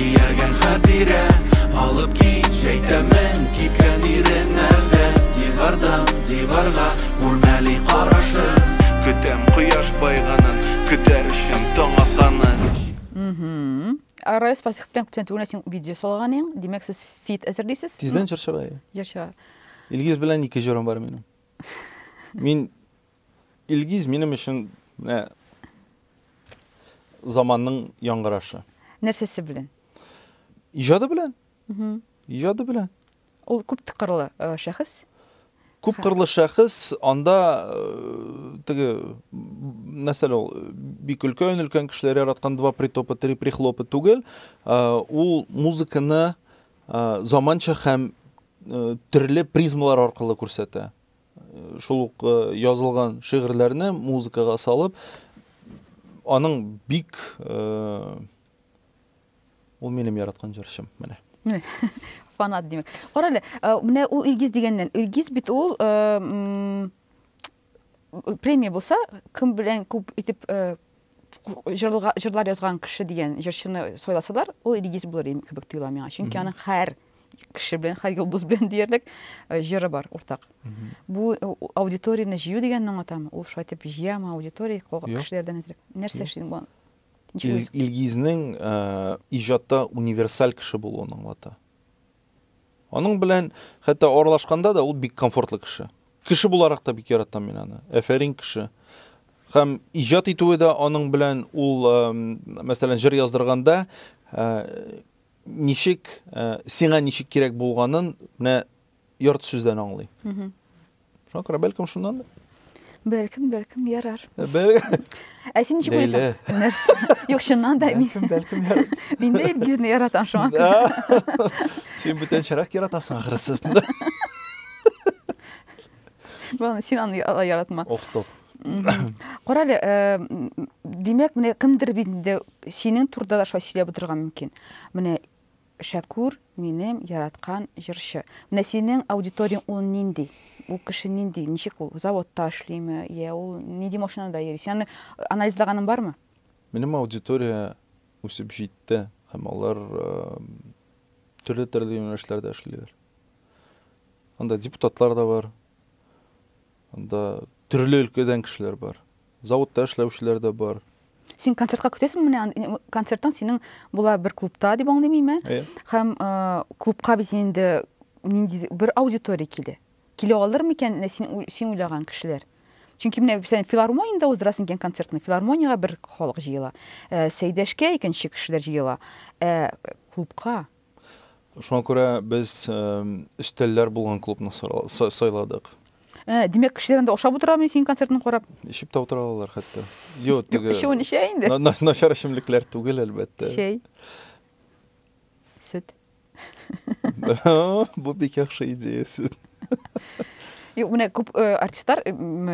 Ияргән хатирә алып кит Шәйтәмен кипкән иреннәрдә Дивардан диварга үрмәли карашын Көтәм кояш байганын, көтәр өчен таң атанын Арай спасих белән күптән түгел син видео салган ең, димәк сез фит әзерлисез? Тиздән җырчыга. Җырчыга. Илгиз белән ике җырым бар минем. Мин Илгиз минем өчен менә заманның яңгырашы. Нәрсәсе белән? Иҗады белән. Иҗады белән. Ул күп тыкырлы э, шәхес. Күп кырлы шәхес, анда э, теге нәрсәле ул бик өлкән өлкән кешеләр яраткан два притопа, три прихлопа түгел. Э, ул музыканы заманча һәм төрле призмалар аркылы күрсәтә. шул ук э, язылган шигырьләрне музыкага салып аның бик э, ул минем яраткан җырчым менә фанат димәк кара әле э, менә ул илгиз дигәннән илгиз бит ул премия булса кем белән күп итеп җырлар, җырлар язган кеше дигән җырчыны сайласалар, ул Илгиз булыр иде кебек тоела миңа. Чөнки аның һәр кеше белән, һәр йолдыз белән диярлек э, җыры бар уртак. Бу э, аудиторияне җыю дигәнне аңлатамы? Ул шулай итеп җыямы аудитория кешеләрдән әзрәк? Нәрсә эшлим бу? Илгизнең э, иҗатта универсаль кеше булуын аңлата. Аның белән хәтта аралашканда да ул бик комфортлы кеше. Кеше буларак та бик яратам мин аны. Әфәрин кеше. Һәм иҗат итүе дә аның белән ул, мәсәлән, җыр яздырганда, ничек, сиңа ничек кирәк булганын менә ярты сүздән аңлый. Шакра, бәлкем шуннан? Бәлкем, бәлкем ярар. Э, бәлкем. Ә син ничек уйлыйсың? Нәрсә? Юк, чыннан да мин. Бәлкем, бәлкем ярар. Мин дә Илгизне яратам шуңа. Син бүтәнчәрәк яратасың ахрысы. Бана син аны яратма. Оф, топ. Корале, э, димәк, менә кемдер бит инде синең турда да шулай сөйләп утырган мөмкин. Менә Шәкүр, минем яраткан җырчы. Менә синең аудиторияң ул нинди? Ул кеше нинди? Ничек ул? Заводта эшлиме? Йә ул нинди машинада йөри? Син аны анализлаганың бармы? Минем аудитория үсеп җитте һәм алар төрле-төрле юнәлешләрдә эшлиләр. Анда депутатлар да бар, Анда төрле өлкәдән кешеләр бар. Заводта эшләүчеләр дә бар. Син концертка көтәсең менә концерттан синең була бер клубта дип аңлыйм име? Әйе. Һәм клубка бит инде нинди бер аудитория килә. Килә алыр микән менә син син уйлаган кешеләр? Чөнки менә сен филармониядә уздырасың икән концертны. Филармониягә бер халык җыела. Сәйдәшкә икенче кешеләр җыела. Ә клубка Шуңа күрә без өстәлләр булган клубны сайладык. Ә, димәк, кешеләр анда ашап утыра мени синең концертны карап? Эчеп тә утыра алалар хәтта. Йо, теге. Эчүен эчә инде. Начар эчемлекләр түгел, әлбәттә. Чәй. Сөт. Бу бик яхшы идея, сөт. Юк, менә күп э, артистлар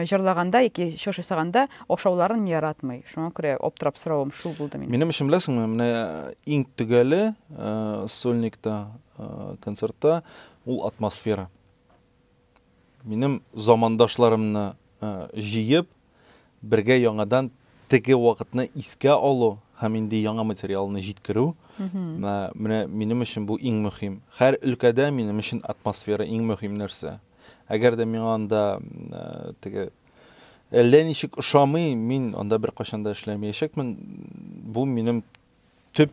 җырлаганда яки чыгыш ясаганда ошауларын яратмый. Шуңа күрә аптырап соравым шул булды минем. Минем өчен беләсеңме, менә э, иң төгәле э, сольникта концертта ул атмосфера. Минем замандашларымны җыеп, бергә яңадан теге вакытны искә алу һәм инде яңа материалны җиткерү. Менә минем өчен бу иң мөһим. Һәр өлкәдә минем өчен атмосфера иң мөһим нәрсә. Әгәр дә миңа анда теге әллә ничек ошамый, мин анда беркайчан да эшләмәячәкмен. Бу минем төп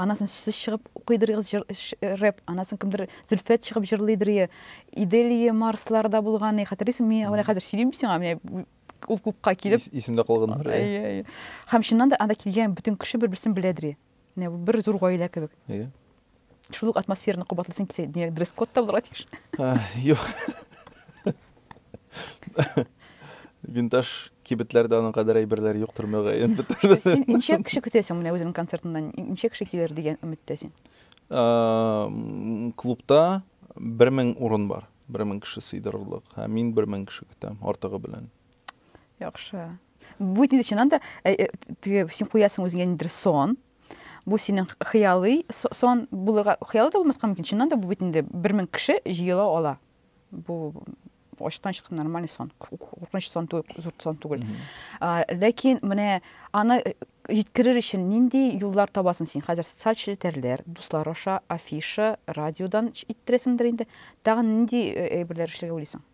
Анасын сез чыгып укыйдырыгыз җыр, рэп, анасын кемдер Зөлфәт чыгып җырлыйдырые, Иделие, Марсларда булганы, хәтерлисең, мин менә хәзер сөйлим бит сиңа, менә ул клубка килеп. Ис, исемдә калганнар. Әйе, әйе. Һәм чыннан да анда килгән бөтен кеше бер-берсен беләдер. Менә бер зур гаилә кебек. Әйе. Шул ук атмосфераны кабатлыйсың килсә, димәк, дресс-код та булырга тиеш. Юк. Винтаж кибетләрдә аның кадәр әйберләр юктыр мөгаен. Син ничә кеше көтәсең менә үзеңнең концертыңнан? Ничә кеше килер дигән өметтә син? Клубта 1000 урын бар. 1000 кеше сыйдырырлык. Һәм мин 1000 кеше көтәм, артыгы белән. Яхшы. Бу инде чыннан да э, э, теге син куясың үзеңә ниндидер сон. Бу синең хыялый сон булырга, хыялы да булмаска мөмкин. Чыннан да бу бит инде 1000 кеше җыела ала. бу ачтан чыкты нормальный сон куркыныч сон түгел зурт сон түгел ләкин менә аны э, җиткерер өчен нинди юллар табасың син хәзер социаль челтәрләр дуслар аша афиша радиодан иттерәсеңдер инде тагын нинди э, әйберләр эшләргә уйлыйсың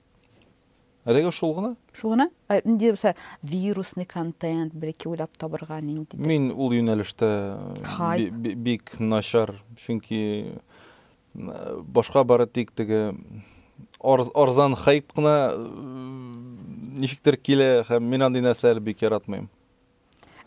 әлегә шул гына шул гына ә, нинди булса вирусный контент бәлки уйлап табырга нинди мин ул юнәлештә бик начар чөнки Башка бары тик теге арзан хайп кына ничектер килә һәм мин андый нәрсәләр бик яратмыйм.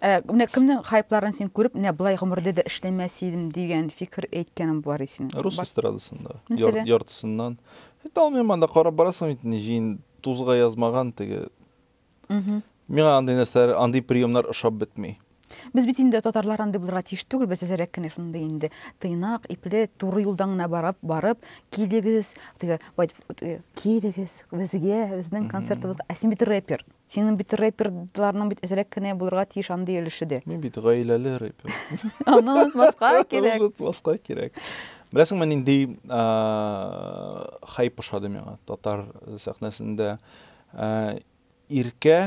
Ә, менә кемнең хайпларын син күреп, менә былай гомердә дә эшләмәс идем дигән фикер әйткәнең бар исең. Рус эстрадасында. Яр, яртысыннан. Әйтә алмыйм анда карап барасың бит, җыен тузга язмаган теге Миңа андый нәрсәләр, андый приемнар ошап бетми. Без бит инде татарлар андый булырга тиеш түгел, без әзерәк кенә шундый инде тыйнак, ипле, туры юлдан гына барып, барып, килегез, теге, килегез, безгә, безнең концертыбызга. Ә син бит рэпер. Синең бит рэперларның бит әзерәк кенә булырга тиеш андый өлеше дә. Мин бит гаиләле рэпер. Аны онытмаска кирәк. Аны онытмаска кирәк. Беләсеңме, нинди хайп ошады миңа татар сәхнәсендә? Иркә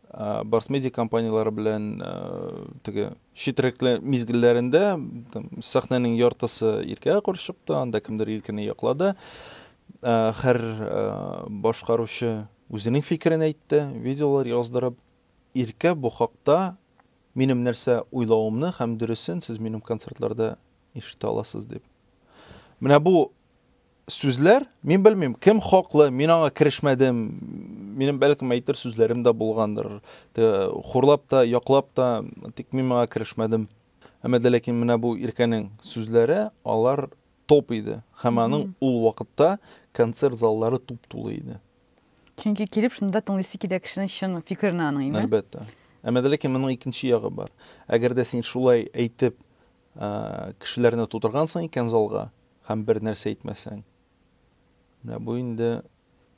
Барсмедиа компанияләре белән теге читрәкле мизгелләрендә сәхнәнең яртысы Иркәгә каршы чыкты, анда кемдер Иркәне яклады. Хәр башкаручы үзенең фикерен әйтте, видеолар яздырып. Иркә бу хакта минем нәрсә уйлавымны һәм дөресен сез минем концертларда ишетә аласыз дип. Менә бу сүзләр, мин белмим, кем хаклы, мин аңа керешмәдем, минем бәлкем әйтер сүзләрем дә булгандыр, хурлап та, яклап та, тик мин моңа керешмәдем. Әмма дә ләкин менә бу Иркәнең сүзләре, алар топ иде, һәм аның ул вакытта концерт заллары туп-тулы иде. Чөнки килеп шунда тыңлыйсы килә кешенең чын фикерен аның инде. Әлбәттә. Әмма дә ләкин моның икенче ягы бар. Әгәр дә син шулай әйтеп Кешеләрне тутыргансың икән залга һәм бер нәрсә әйтмәсәң. Менә бу инде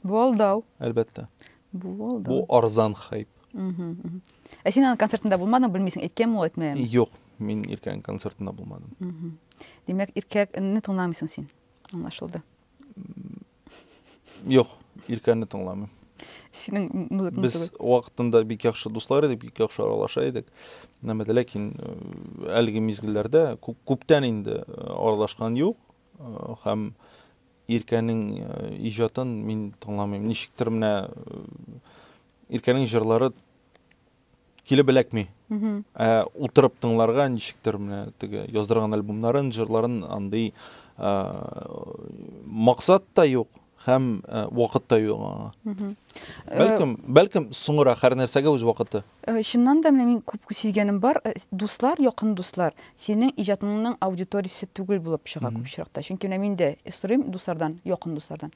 Бу алдау. Әлбәттә. Бу алдау. Бу арзан хайп. Ә син аның концертында булмадың, белмисең, әйткәнме ул, әйтмәгәнме? Юк, мин Иркәнең концертында булмадым. Димәк, Иркәне тыңламыйсың син. Аңлашылды. Юк, Иркәне тыңламыйм. Синең музыкаң Без вакытында бик яхшы дуслар идек, бик яхшы аралаша идек. Нәмәдә, ләкин э, әлеге мизгелләрдә күп, күптән инде э, аралашкан юк э, һәм Иркәнең иҗатын мин тыңламыйм. Ничектер менә Иркәнең җырлары килеп эләкми. Ә утырып тыңларга ничектер менә теге яздырган альбомнарын, җырларын андый максат та юк һәм вакыт та юк аңа. Бәлкем, бәлкем соңрак һәр нәрсәгә үз вакыты. Чыннан да менә мин күп сизгәнем бар, дуслар, якын дуслар, синең иҗатыңның аудиториясе түгел булып чыга күп чакта. Чөнки менә мин дә сорыйм дуслардан, якын дуслардан.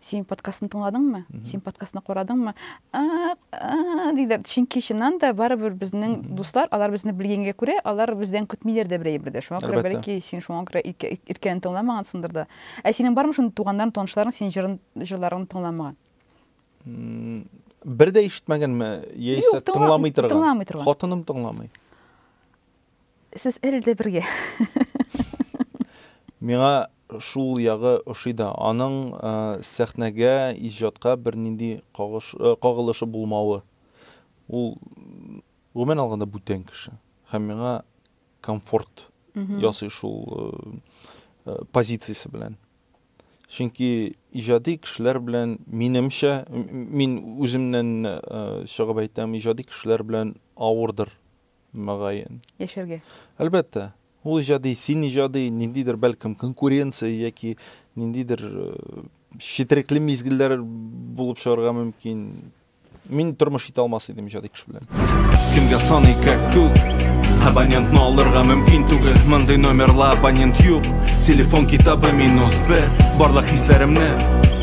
Син подкастны тыңладыңмы? Син подкастны карадыңмы? Диләр. Чөнки чыннан да барыбер безнең дуслар, алар безне белгәнгә күрә, алар бездән көтмиләр дә берәй бер дә. Шуңа күрә бәлки син шуңа күрә иркәне тыңламагансыңдыр да. Ә синең бармы шундый туганнарың, танышларың синең җырын, җырларыңны тыңламаган? Бер дә ишетмәгәнме? Яисә тыңламый торган? Тыңламый торган. Хатыным тыңламый. Сез әле дә бергә. Миңа шул ягы ошый да, аның сәхнәгә, иҗатка бернинди кагылышы булмавы. Ул, гомумән алганда, бүтән кеше. Һәм миңа комфорт ясый шул позициясе белән. Чөнки иҗади кешеләр белән минемчә, мин үземнән чыгып әйтәм, иҗади кешеләр белән авырдыр мөгаен. Яшәргә. Әлбәттә. Ул иҗади, син иҗади, ниндидер, бәлкем, конкуренция яки ниндидер четерекле мизгелләр булып чыгарга мөмкин. Мин тормыш итә алмас идем иҗади кеше белән. Кемгә саный как күк? Абонентны алырга мөмкин түгел, мондый номерла абонент юк. Телефон китабы минус бер, барлык хисләремне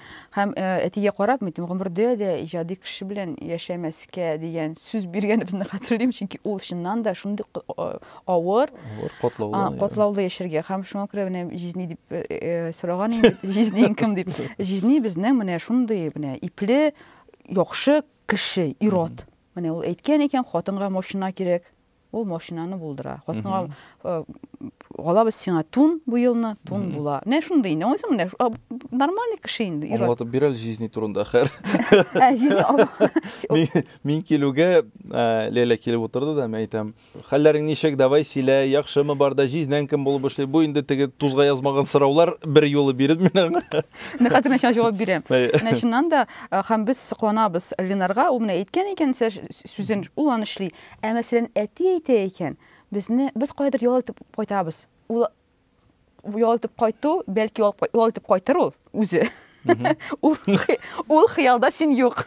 Һәм әтигә карап, мин гомердә дә иҗади кеше белән яшәмәскә дигән сүз биргәнебезне хәтерлим, чөнки ул чыннан да шундый авыр, авыр катлаулы, катлаулы яшәргә. Һәм шуңа күрә менә җизни дип сораган инде, җизни кем дип. Җизни безнең менә шундый менә ипле, яхшы кеше, ирод. Менә ул әйткән икән, хатынга машина кирәк, Ул машинаны булдыра. Хатынга алабыз сиңа тун бу елны, тун була. Менә шундый инде. Аңлыйсыңмы? Менә нормальный кеше инде. Аңлатып бир әле жизни турында, хәр. Ә, жизни. Мин килүгә Ләйлә килеп утырды да, мин әйтәм, хәлләрең ничек, давай сөйлә, яхшымы бар да, жизнең кем булып эшли? Бу инде теге тузга язмаган сораулар бер юлы биреп мин аңа. Менә хәзер начал җавап бирәм. Менә шуннан да һәм без сокланабыз Ленарга, ул менә әйткән икән, сүзен ул аны эшли. Ә мәсәлән, әти әйтә икән, безне, без каядыр ял итеп кайтабыз. Ул ял итеп кайту, бәлки ул ял итеп кайтыр ул үзе. Ул ул хыялда син юк.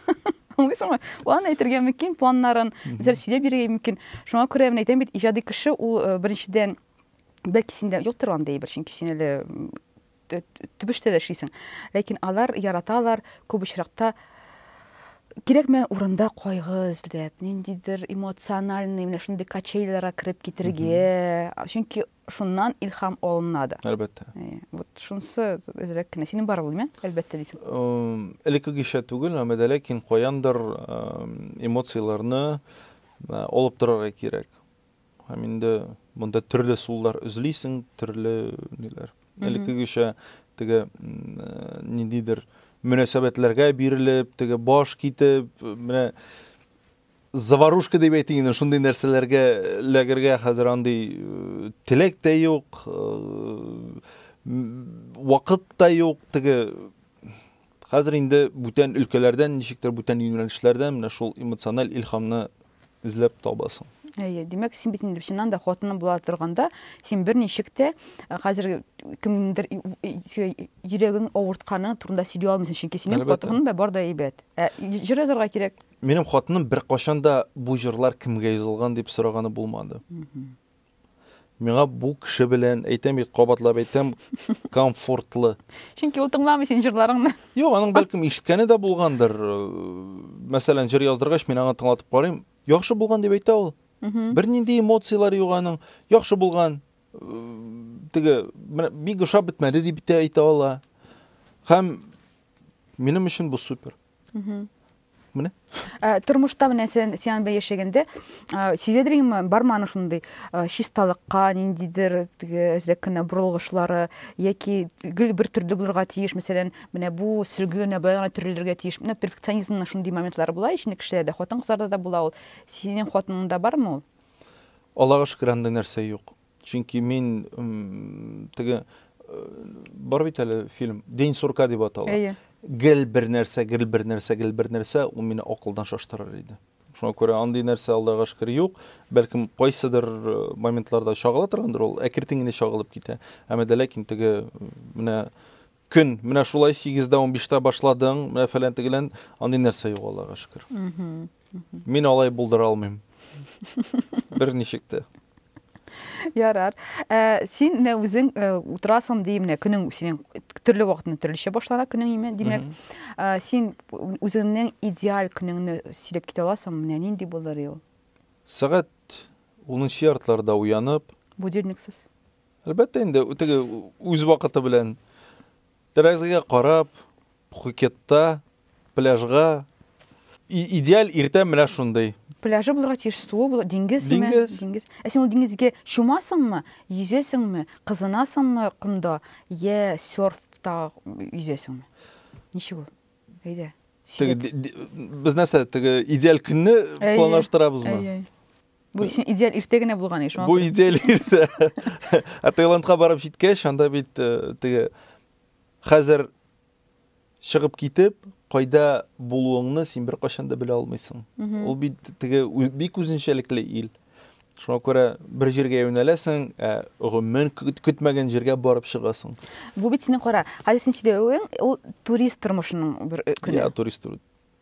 Аңлыйсыңмы? План әйтергә мөмкин, планнарын үзәр сөйләп бирергә мөмкин. Шуңа күрә мин әйтәм бит, иҗади кеше ул э, беренчедән бәлки синдә юктыр андый бер, чөнки син әле төбештә дә эшлисең. Ләкин алар яраталар күп очракта кирәкмәгән урында кайгы эзләп, ниндидер эмоциональный менә шундый качелиларга кереп китергә. Чөнки шуннан илһам алына да. Әлбәттә. Вот шунысы әзрәк кенә. Синең бар ул, димә? Әлбәттә дисең. Элеккегечә түгел, әмма дә ләкин каяндыр эмоцияләрне алып торырга кирәк. Һәм инде монда төрле суллар үзлисең, төрле ниләр. Элеккегечә теге ниндидер мөнәсәбәтләргә бирелеп, теге баш китеп, менә заварушка дип әйтик инде, шундый нәрсәләргә ләгергә хәзер андый э, теләк тә юк, э, вакыт та юк, теге Хәзер инде бүтән өлкәләрдән, ничектер бүтән юнәлешләрдән менә шул эмоциональ илһамны эзләп табасың. Әйе, димәк, син бит инде чыннан да хатыны була торганда, син берничек тә э, хәзер кемнеңдер йөрәген авыртканы турында сөйли алмыйсың, чөнки синең хатының да бар да әйбәт. Ә җыр язарга кирәк. Минем хатыным беркайчан да бу җырлар кемгә язылган дип сораганы булмады. Миңа бу кеше белән, әйтәм бит, кабатлап әйтәм, комфортлы. Чөнки ул тыңламый син җырларыңны. Юк, аның бәлкем ишеткәне дә булгандыр. Мәсәлән, җыр яздыргач, мин аңа тыңлатып карыйм. Яхшы булган дип әйтә ул. Бернинди эмоцияләр юк аның. Яхшы булган. Теге, бик ошап бетмәде дип әйтә ала. Һәм минем өчен бу супер. Менә. Э, тормышта менә сен сен бе яшәгәндә э, сизәдер инде барма аны шундый э, чисталыкка ниндидер теге әзрәк кенә борылгышлары яки гел бер төрле булырга тиеш мәсәлән менә бу сөлге генә былай гына төрелергә тиеш менә перфекционизмның шундый моментлары була ичне кешеләрдә хатын кызларда да була ул синең хатыныңда бармы ул аллага шөкер андый нәрсә юк Чөнки мин теге бар бит әле фильм День сурка дип атала. Әйе. Гел бер нәрсә, гел бер нәрсә, гел бер нәрсә ул мине акылдан шаштырыр иде. Шуңа күрә андый нәрсә Аллага шөкер юк. Бәлкем кайсыдыр э, моментларда чагыла торгандыр ул, әкертен генә чагылып китә. Әмма дә ләкин теге менә Көн, менә шулай сигездә унбиштә башладың, менә фәлән тегелән, андый нәрсә юк, Аллага шөкер. Мин алай булдыра алмыйм. Берничек тә. Ярар. Ә, син менә үзең э, утырасың ди, менә көнең синең төрле вакытны төрлечә башлана көнең име, димәк, ә, син үзеңнең идеаль көнеңне сөйләп китә аласың, менә нинди булыр ел? Сәгать 10 яртларда уянып. Будильниксыз. Әлбәттә инде, теге үз вакыты белән тәрәзәгә карап, Пхукетта, пляжга идеаль иртә менә шундый. Пляжы булырга тиеш, суы була, диңгез, диңгез. диңгез. Ә син ул диңгезгә чумасыңмы, йөзәсеңме, кызынасыңмы комда, я серфта йөзәсеңме? Ничек ул? Әйдә. Без нәрсә, теге идеаль көнне планлаштырабызмы? Бу син идеаль иртә генә булган еш. Бу идеаль иртә. Ә Таиландка барып җиткәч, анда бит э, теге хәзер чыгып китеп, кайда булуыңны син бер кайчан да белә алмыйсың. Ул бит теге бик үзенчәлекле ил. Шуңа күрә бер җиргә юнәләсең, ә гомумән көтмәгән җиргә барып чыгасың. Бу бит синең кара, хәзер син сөйләвең, ул турист тормышының бер э, көне. Я турист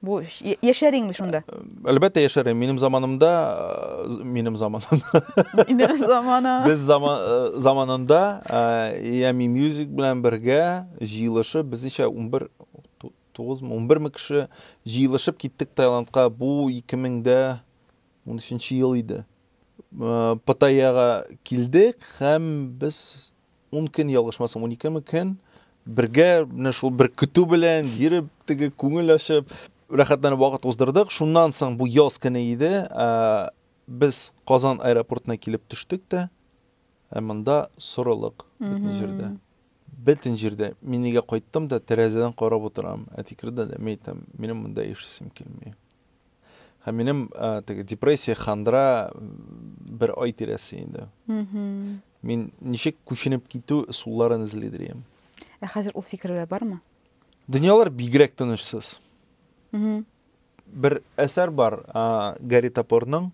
Бу яшәр инде шунда. Әлбәттә яшәр. Минем заманымда, минем заманымда. Минем замана. Без заман заманында Ями Music белән бергә җыелышып, без ничә 11 9 мы 11 мы кеше җыелышып киттек Таиландка. Бу 2013 ел иде. Паттайяга килдек һәм без Ун көн ялгышмасам, уникеме көн бергә менә шул бер көтү белән йөреп, теге күңел ачып, рәхәтләнеп вакыт уздырдык. Шуннан соң бу яз көне иде, без Казан аэропортына килеп төштек тә, ә монда сорылык бөтен җирдә. Бөтен җирдә. Мин нигә кайттым да тәрәзәдән карап утырам. Әти керде дә, мин әйтәм, минем монда яшисем килми. Һәм минем теге депрессия, хандра бер ай тирәсе инде. Мин ничек күченеп китү ысулларын эзлидер идем. Ә хәзер ул фикерләр бармы? Дөньялар бигрәк тынычсыз. Бер әсәр бар, Гарри Топорның.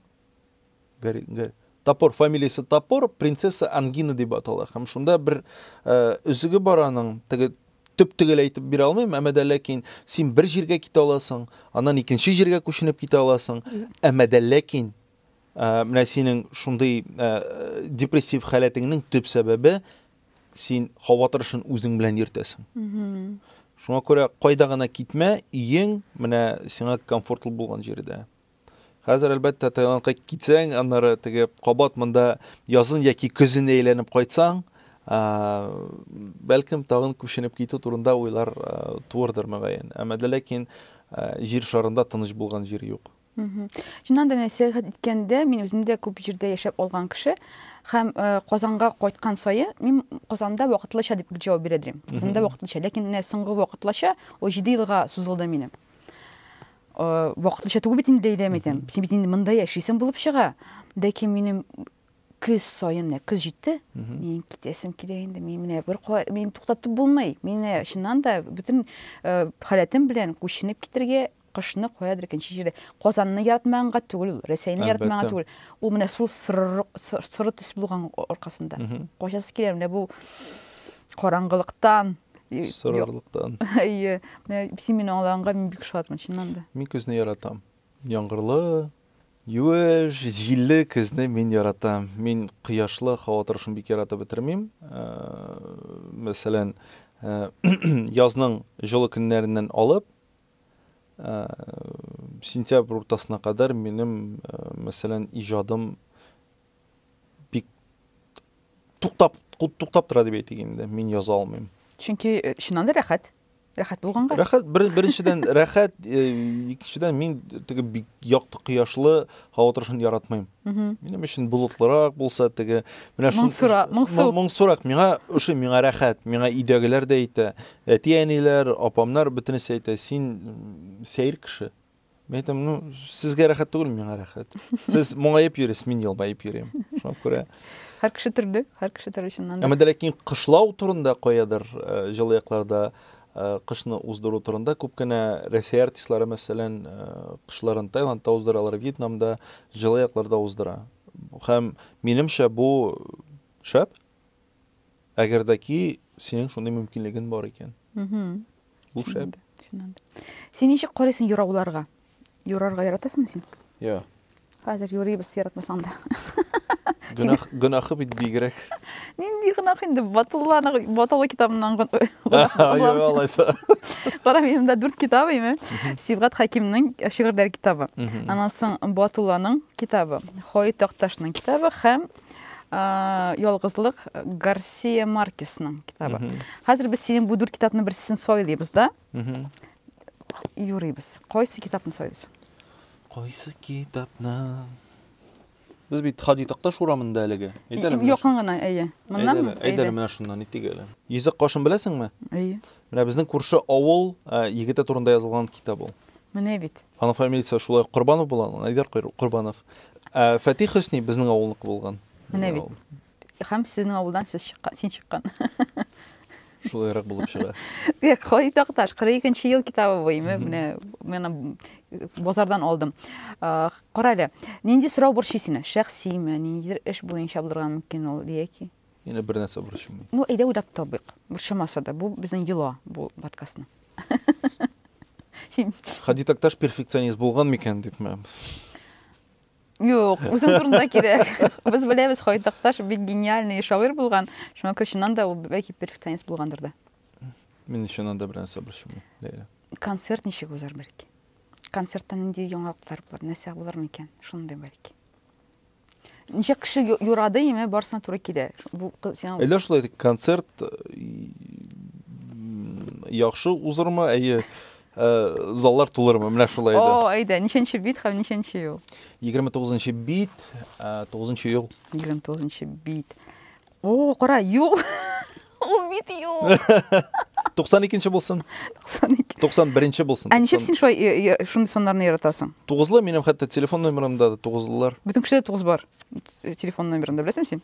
Гарри, Гарри. Топор фамилиясе Топор, принцесса Ангина дип атала. Һәм шунда бер ә, өзеге бар аның, теге төп төгәл әйтеп бирә алмыйм, әмма дә ләкин син бер җиргә китә аласың, аннан икенче җиргә күченеп китә аласың, әмма дә ләкин Ә, менә синең шундый ә, депрессив халәтеңнең төп сәбәбе син һава торышын үзең белән йөртәсең. Шуңа күрә кайда гына китмә, иең менә сиңа комфортлы булган җирдә. Хәзер әлбәттә Таиландка китсәң, аннары теге кабат монда язын яки көзен әйләнеп кайтсаң, бәлкем тагын күченеп китү турында уйлар туырдыр мөгаен. Әмма ләкин җир шарында тыныч булган җир юк. Чыннан да менә сәяхәт иткәндә мин үзем дә күп җирдә яшәп алган кеше һәм э, Казанга кайткан саен мин Казанда вакытлыча дип җавап бирә идем. Казанда вакытлыча, ләкин менә соңгы вакытлыча ул 7 елга сузылды минем. Э, вакытлыча түгел бит инде әйләм итәм. Син бит инде монда яшисең булып чыга. Ләкин минем көз саен менә көз җитте. Мин китәсем килә инде. Мин менә бер куа- мин туктатып булмый. Мин менә чыннан да бөтен э, халәтем белән күченеп китергә Кышны каядыр икенче җирдә. Казанны яратмаганга түгел ул, Рәсәйне яратмаганга түгел. Ул менә шул соры төс булган аркасында. Качасы килә менә бу караңгылыктан, сорырлыктан. Әйе. Син мине аңлаганга мин бик шатмын, чыннан да. Мин көзне яратам. Яңгырлы, юеш, җилле көзне мин яратам. Мин кояшлы һава торышын бик яратып бетермим. Мәсәлән, язның җылы көннәреннән алып, сентябрь уртасына кадәр минем, мәсәлән, иҗадым бик туктап туктап тора дип әйтик инде. Мин яза алмыйм. Чөнки э, чыннан да рәхәт. Рәхәт булганга. Рәхәт бер, беренчедән рәхәт, э, икенчедән мин теге бик якты кояшлы Һава торышын яратмыйм. Минем өчен болытлырак булса теге, менә шул моңсурак, моңсу. Моңсурак миңа ошый, миңа рәхәт, миңа өйдәгеләр дә әйтә. Әти-әниләр, апамнар бөтенесе әйтә, син сәер кеше. Мин әйтәм, ну, сезгә рәхәт түгел, миңа рәхәт. Сез моңаеп йөрисез, мин елмаеп йөрим. Шуңа күрә Һәр кеше төрле, һәр кеше төрле чыннан да. Әмма дә ләкин кышлау турында каядыр э, җылы якларда Кышны уздыру турында күп кенә Рәсәй артистлары, мәсәлән, кышларын Таиландта уздыралар, Вьетнамда, җылы якларда уздыра. Һәм, минемчә, бу шәп. Әгәр дә ки синең шундый мөмкинлеген бар икән. Бу шәп. Син ничек карыйсың юрауларга? Юрарга яратасыңмы син? Йо. Хәзер юрыйбыз яратмасаң да. Гөнаһ гөнаһы бит бигрәк. Нинди гөнаһ инде Батулланы Батулла китабыннан гөнаһ. Йо, алайса. Кара минем дә дүрт китабы име? Сибгат Хакимның шигырьләр китабы. Аннан соң Батулланың китабы, Хой Такташның китабы һәм Ялгызлык Гарсия Маркесның китабы. Хәзер без синең бу дүрт китапның берсен сайлыйбыз да. юрыйбыз. Кайсы китапны сайлыйсың? Кайсы китапны? Без бит Хади Такташ урамында әлеге. Әйтәле менә. Якын гына, әйе. Моннан әйдәле менә шуннан итик әле. Йөзек кашын беләсеңме? Әйе. Менә безнең күрше авыл э, егете турында язылган китап ул. Менә бит. Аның фамилиясе шулай Корбанов була, Айдар Корбанов. Э, Фәтих Хөсни безнең авылныкы булган. Менә бит. Хәм сезнең авылдан сез чыккан, син чыккан. Шулайрак булып чыга. Э, Кай такташ, 42 ел китабы бу, име, менә мен э, базардан алдым. Э, Кара әле, нинди сорау борчый сине? Шәхсиме, ниндидер эш буенча булырга мөмкин ул, яки? Ина бер нәрсә борчымый. Ну, әйдә уйлап табыйк. Борчымаса да, бу безнең йола, бу подкастның. Син Хади Такташ перфекционист булган микән дипме? Юк, үзең турында кирәк. Без беләбез, Хайтакташ бик гениальный шагыйрь булган. Шуңа күрә чыннан да ул бәлки перфекционист булгандыр да. Мин чыннан да берәр нәрсә борчымый, Ләйлә. Концерт ничек узар бәлки? Концертта нинди яңалыклар булыр, нәрсә булыр микән? Шундый бәлки. Ничек кеше ю- юрады, яме барысына туры килә. Бу кыз- сиңа Әллә шулай концерт э, м, яхшы узырмы? Әйе, Э, заллар тулырмы менә шулай иде о әйдә ничәнче бит һәм ничәнче ел егерме тугызынчы бит э, тугызынчы ел егерме тугызынчы бит о кара юл ул бит юл туксан икенче булсын туксан ике туксан беренче булсын ә ничек син шулай э, шундый саннарны яратасың тугызлы минем хәтта телефон номерымда да тугызлылар бөтен кешедә тугыз бар телефон номерында беләсеңме син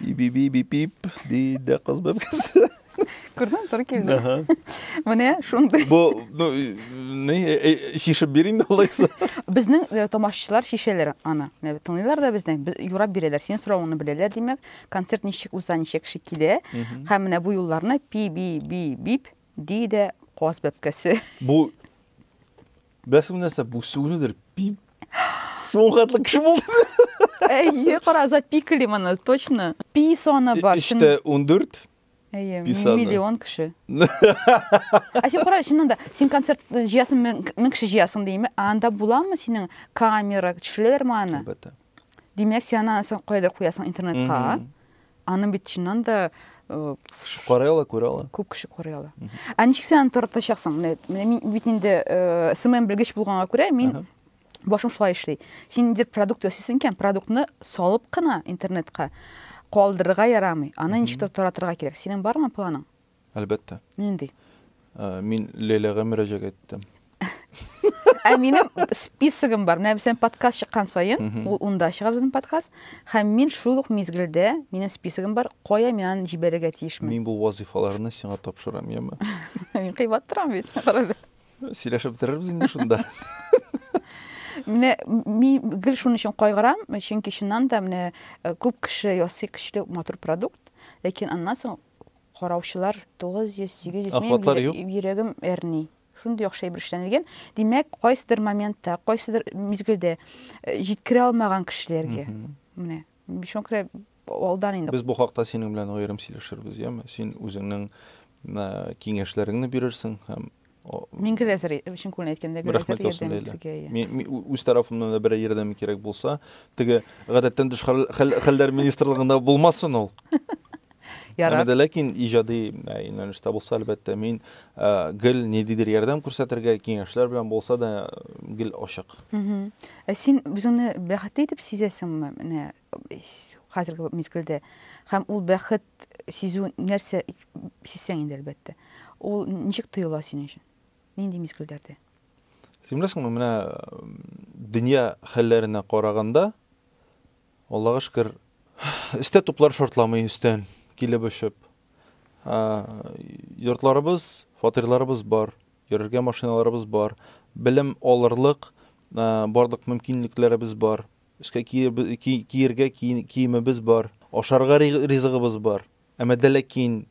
Бип, бип, бип, бип, диде кыз бәбкәсе. Күрдең, туры килде. Ага. Менә шундый. Бу, ну, не, шишеп бир инде алайса. Безнең э, тамашачылар шишәләр аны. Менә Тыңлыйлар да безне, б- юрап бирәләр. Синең соравыңны беләләр, димәк, концерт ничек уза, ничә кеше килә. Һәм менә бу юлларны пи би би бип диде каз бәбкәсе. Бу Беләсең менә нәрсә, бу сүгенүдер. Пип. Шул хәтле кеше булды. Әйе, кара, запикали моны, точно. Пи саны бар. Эчтә 14. Әйе, миллион кеше. Ә син кара, чыннан да, син концерт җыясың, мең кеше җыясың димме? Анда буламы синең камера, төшерәләрме аны? Әлбәттә. Димәк, син аны соң кайда куясың интернетка? Аны бит чыннан да кеше карый ала, күрә ала. Күп кеше карый ала. Ә ничек син аны таратачаксың? Менә мин бит инде СММ белгеч булганга күрә, мин башым шулай эшли. Син инде продукт ясыйсың икән, продуктны салып кына интернетка калдырырга ярамый. Аны ничек таратырга кирәк? Синең бармы планың? Әлбәттә. Нинди? Э, мин Ләйләгә мөрәҗәгать иттем. Ә минем списогым бар. Менә безнең подкаст чыккан саен, ул унда чыга безнең подкаст. Һәм мин шул ук мизгелдә, минем списогым бар, кая мин аны җибәрергә тиешмен. Мин бу вазифаларны сиңа тапшырам, яме? Мин кыйбат торам бит. Сөйләшеп бетерербез инде шунда. Менә мин гел шуның өчен кайгырам, чөнки чыннан да менә э, күп кеше ясый көчле матур продукт, ләкин аннан соң Караучылар 900, 800, Охватлар юк. минем йөрәгем әрни. Шундый яхшы әйбер эшләнелгән. Димәк, кайсыдыр моментта, кайсыдыр мизгелдә э, җиткерә алмаган кешеләргә. Менә, шуңа күрә алдан инде. Без бу хакта синең белән аерым сөйләшербез, яме? Син үзеңнең э, киңәшләреңне бирерсең һәм Мин гел әзер, чын күңелдән әйткәндә, гел әзер ярдәм итәргә. Мин үз тарафымнан да берәр ярдәм кирәк булса, теге гадәттән тыш хәлләр министрлыгында булмасын ул. Ярар. Әмма ләкин иҗади э, юнәлештә булса, әлбәттә, мин э, гел ниндидер ярдәм күрсәтергә, киңәшләр белән булса да гел ачык. Ә син үзеңне бәхетле итеп сизәсеңме? Менә хәзерге мизгелдә. Һәм ул бәхет сизү нәрсә сизсәң инде, әлбәттә. Ул ничек тоела синең өчен? Нинди мизгелләрдә? Син беләсеңме, менә дөнья хәлләренә караганда, Аллага шөкер, эстә туплар шартламый өстән килеп очып. Йортларыбыз, фатирларыбыз бар, йөрергә машиналарыбыз бар, белем алырлык барлык мөмкинлекләребез бар. Өскә киергә киемебез бар, ашарга ризыгыбыз бар. Әмма дә ләкин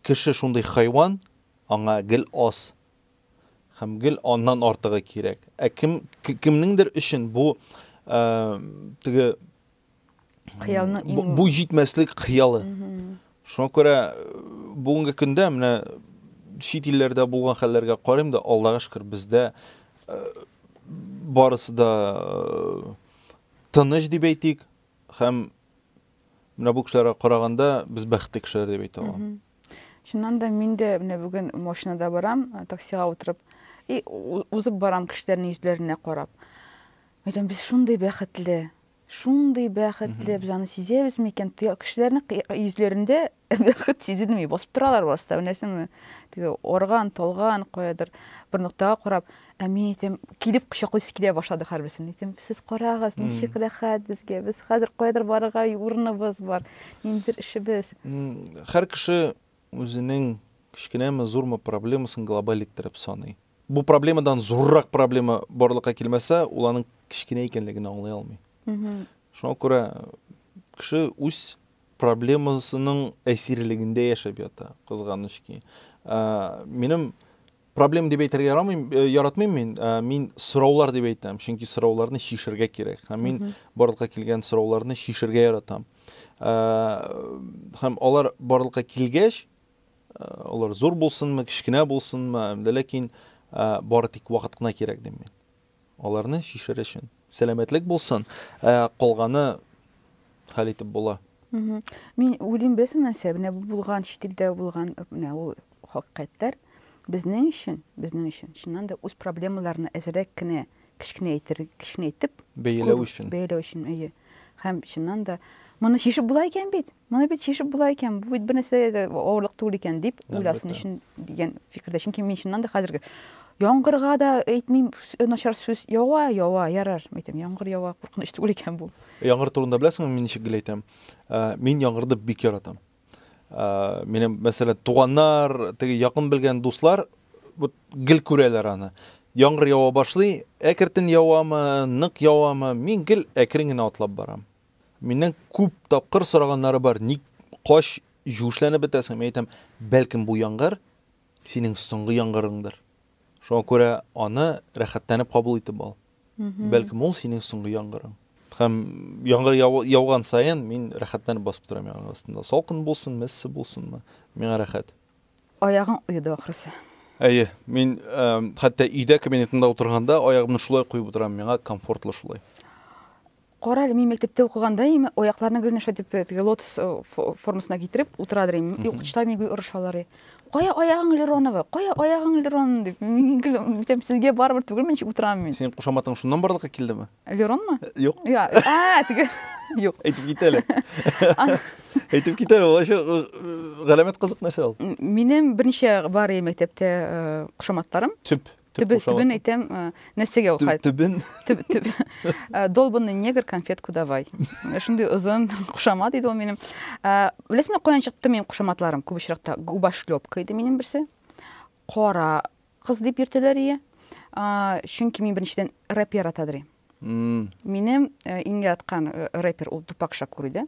кеше шундый хайван, аңа гел аз һәм гел аннан артыгы кирәк. Ә кем кемнеңдер өчен бу теге хыялның бу җитмәслек хыялы. Шуңа күрә бүгенге көндә менә чит илләрдә булган хәлләргә карыйм да, Аллага шөкер, бездә барысы да тыныч дип әйтик, һәм менә бу кешеләргә караганда без бәхетле кешеләр дип әйтә алам. Чыннан да мин дә менә бүген машинада барам, таксига утырып, и узып барам кешеләрнең йөзләренә карап. Әйтәм, без шундый бәхетле. Шундый бәхетле, без аны сизәбез микән? Кешеләрнең йөзләрендә бәхет сизелми, басып торалар барысы да, беләсеңме? Теге арган, талган, каядыр бер ноктага карап, ә мин әйтәм, килеп кочаклыйсы килә башлады һәрберсен. Әйтәм, сез карагыз, ничек рәхәт безгә, без хәзер каядыр барырга урыныбыз бар, ниндидер эшебез. Һәр кеше үзенең кечкенәме, зурмы проблемасын глобаль иттереп саный. Бу проблемадан зуррак проблема барлыкка килмәсә, ул аның кечкенә икәнлеген аңлый алмый. Шуңа күрә кеше үз проблемасының әсирлегендә яшәп ята, кызганыч ки. Минем проблем дип әйтергә ярамыйм, э, яратмыйм мин. Э, мин сораулар дип әйтәм, чөнки сорауларны чишергә кирәк. Һәм мин барлыкка килгән сорауларны чишергә яратам. Э, һәм алар барлыкка килгәч, Алар зур булсынмы, кечкенә булсынмы, әмдә ләкин бары тик вакыт кына кирәк дим мин. Аларны чишер өчен. Сәламәтлек булсын, калганы хәл итеп була. Мин уйлыйм, беләсең нәрсә, менә бу булган, чит илдә булган, менә ул хакыйкатьләр безнең өчен, безнең өчен чыннан да үз проблемаларны әзрәк кенә кечкенәйтер, кечкенәйтеп бәяләү өчен. Бәяләү өчен, әйе. Һәм чыннан да моны чишеп була икән бит. Моны бит чишеп була икән, бу бит бернәрсә дә авырлык түгел икән, дип уйласын өчен дигән фикердә. Чөнки мин чыннан да хәзерге яңгырга да әйтмим начар сүз, ява, ява, ярар, әйтәм, яңгыр ява, куркыныч түгел икән бу. Яңгыр турында беләсеңме, мин ничек гел әйтәм? Мин яңгырды бик яратам. Минем, мәсәлән, туганнар, теге якын белгән дуслар вот гел күрәләр аны. Яңгыр ява башлый, әкертен явамы, нык явамы, мин гел әкрен генә атлап барам. Миннән күп тапкыр сораганнары бар, ник кач җүешләнеп бетәсең? Мин әйтәм, бәлкем бу яңгыр синең соңгы яңгырыңдыр. Шуңа күрә аны рәхәтләнеп кабул итеп ал. Бәлкем ул синең соңгы яңгырың. Һәм яңгыр яуган саен мин рәхәтләнеп басып торам яңгыр астында. Салкын булсын, мессе булсынмы, миңа рәхәт. Аягың оеды ахрысы. Әйе, мин хәтта өйдә кабинетында утырганда аягымны шулай куеп утырам, миңа комфортлы шулай. Кара әле, мин мәктәптә укыганда им аякларны гел нәрсә дип теге лотос э, формасына китереп утырадыр им. И укытучылар мине гел орышалар. и. Кая аягың Леронова? Кая аягың Лерон дип. Мин гел әйтәм, сезгә барыбер түгелме ничек утырам мин? Синең кушаматың шуннан барлыкка килдеме? Леронмы? Э, Юк. Я, а, теге. Юк. Әйтеп кит әле. Әйтеп кит әле, ул э, галәмәт кызык нәрсә ул. Минем берничә бар и мәктәптә э, кушаматларым. Төп Төбе, төбен әйтәм, нәрсәгә ул хәл? Төбен. Төб, төб. Долбанный негр, конфетку давай. Шундый озын кушамат иде ул минем. Беләсеңме, каян чыкты минем кушаматларым? Күп очракта губошлепка иде минем берсе. Кара кыз дип йөртәләр ие. Чөнки мин беренчедән рэп яратадыр. Минем э, иң яраткан э, рэпер ул Тупак Шакур иде.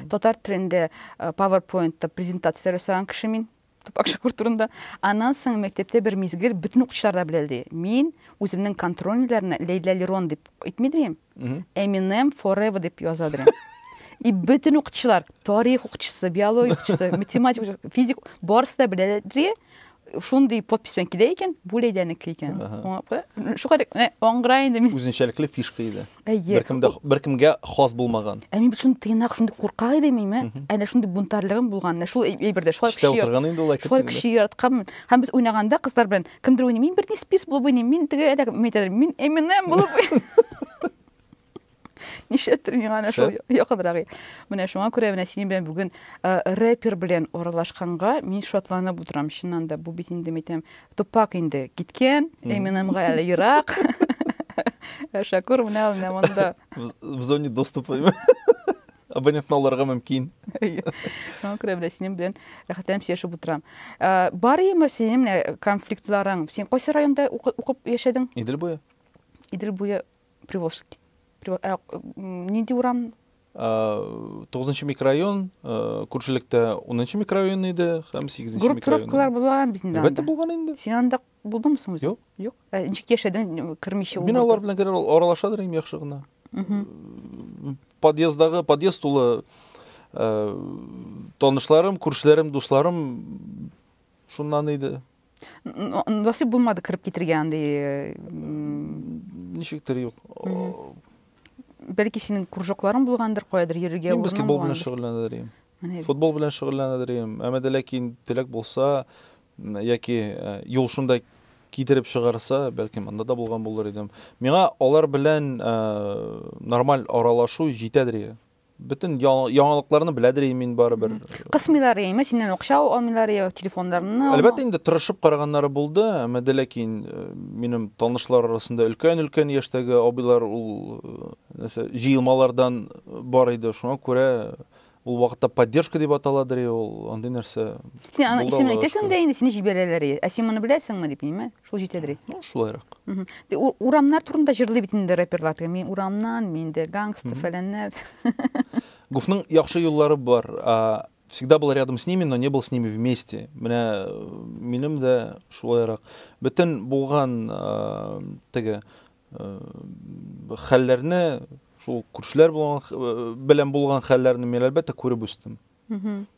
Татар телендә э, PowerPoint-та презентация ясаган кеше мин. тупак шәкүр турында. Аннан соң мәктәптә бер мизгел бөтен укучылар да белә ди. Мин үземнең контрольныйларына Лейла Лерон дип әйтми дим. Eminem Forever дип яза дим. И бөтен укучылар, тарих укучысы, биология укучысы, математик укучысы, физик, барысы да белә ди. Шундый подпись белән килә икән, бу Лейләнеке икән. Шуңа аңгыра инде мин. Үзенчәлекле фишка иде. Әйе. Беркем дә беркемгә хас булмаган. Ә мин бит шундый тыйнак, шундый куркак идем мин, ә? Әнә шундый бунтарлыгым булган, менә шул әйбердә. Шулай кеше. Эштә утырган инде ул әкрен. Шулай кеше яратканмын. Һәм без уйнаганда кызлар белән кемдер уйный, мин Бритни Спирс булып уйныйм, мин теге әдәк мәйтәдер, мин Эминем булып уйныйм. Нишәтер миңа әнә шул якынрагы. Менә шуңа күрә менә синең белән бүген рэпер белән аралашканга мин шатланып утырам, чыннан да. Бу бит инде мәйтәм, Тупак инде киткән, Эминемга әле ерак. Ә Шакур менә ул менә монда. В зоне доступа. Абонентны алырга мөмкин. Шуңа күрә белән синең белән рәхәтләнеп сөйләшеп утырам. Ә, Бар име синең менә конфликтларың? Син кайсы районда укы- укып яшәдең? Идел буе. Идел буе Приволжский. Приво- ә, м, Нинди урам? Тугызынчы микрорайон, күршелектә унынчы микрорайон иде һәм сигезенче микрорайон. Группировкалар булган бит инде. Әлбәттә булган инде. Син анда булдыңмы соң Юк. Юк. Ә ничек яшәдең кермичә ул? Мин алар белән генә аралашадыр идем яхшы гына. Подъездагы подъезд тулы танышларым, күршеләрем, дусларым шуннан иде. Насыйп булмады кереп китергә андый. Ничектер юк. Бәлки синең кружокларың булгандыр, каядыр йөрергә урының булгандыр. Мин баскетбол белән шөгыльләнәдерим. Футбол белән шөгыльләнәдерим. Әмма дә ләкин теләк булса, яки юл шунда китереп чыгарса, бәлки монда да булган булыр идем. Миңа алар белән нормаль аралашу җитәдер. Бөтен яңалыкларны беләдер и мин барыбер. Кысмыйлар яме, синнән акча алмыйлар я телефоннарны. Әлбәттә инде тырышып караганнары булды, әмма дә ләкин э, минем танышлар арасында өлкән-өлкән яшьтәге абыйлар ул э, нәрсә җыелмалардан бар иде. Шуңа күрә ул вакытта поддержка дип аталадыр ул андый нәрсә син аның исемен әйтәсең дә инде сине җибәрәләр ә син моны беләсеңме дип ниме Шул җитәдер бит. Ну, шулайрак. Урамнар турында җырлый бит инде рэперлар. Мин урамнан, мин дә гангстер, фәләннәр. Гуфның яхшы юллары бар. Всегда был рядом с ними, но не был с ними вместе. Менә э, минем дә шулайрак. Бөтен булган э, теге э, хәлләрне, шул күршеләр белән булган хәлләрне мин әлбәттә күреп үстем.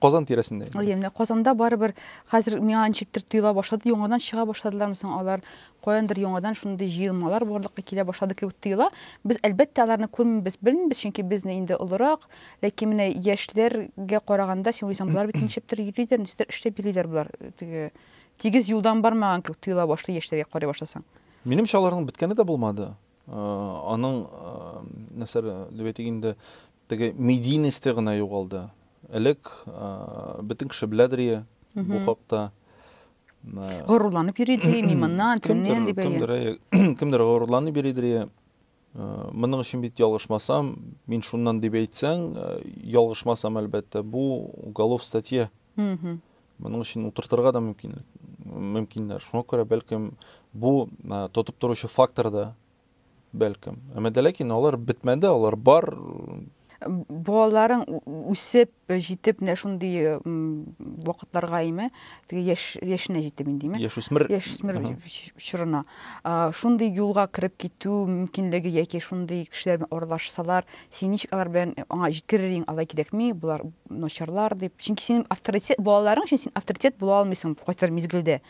Казан тирәсендә инде. Әйе, менә Казанда барыбер хәзер миңа ничектер тоела башлады, яңадан чыга башладылармы соң алар, каяндыр яңадан шундый җыелмалар барлыкка килә башлады кебек тоела. Без, әлбәттә, аларны күрмибез, белмибез, чөнки без инде олырак, ләкин менә яшьләргә караганда, син уйлыйсың, болар бит ничектер йөриләр, ничектер эшләп йөриләр болар, теге тигез юлдан бармаган кебек тоела башлый яшьләргә карый башласаң. Минемчә, аларның беткәне дә булмады. Аның, нәрсә дип әйтик инде, теге медийносте гына югалды. Элек бөтен кеше беләдер ие бу хакта. Горурланып йөри идер ие, мин моннан, төннән дип әйе. Кемдер, кемдер, кемдер горурланып йөри идер ие. Моның өчен бит ялгышмасам, мин шуннан дип әйтсәң, ялгышмасам, әлбәттә, бу уголов статья. Моның өчен утыртырга да мөмкинлек, мөмкиннәр. Шуңа күрә, бәлкем, бу тотып торучы фактор да, бәлкем. Әмма дә ләкин алар бетмәде, алар бар, балаларың үсеп җитеп менә шундый вакытларга име теге яшь яшенә җитеп индеме яшүсмер яшүсмер чорына шундый юлга кереп китү мөмкинлеге яки шундый кешеләр белән аралашсалар Син ничек алар белән э, аңа җиткерер идең, алай кирәкми, болар начарлар дип. Чөнки синең авторитет, балаларың өчен син авторитет була алмыйсың кайсыдыр мизгелдә.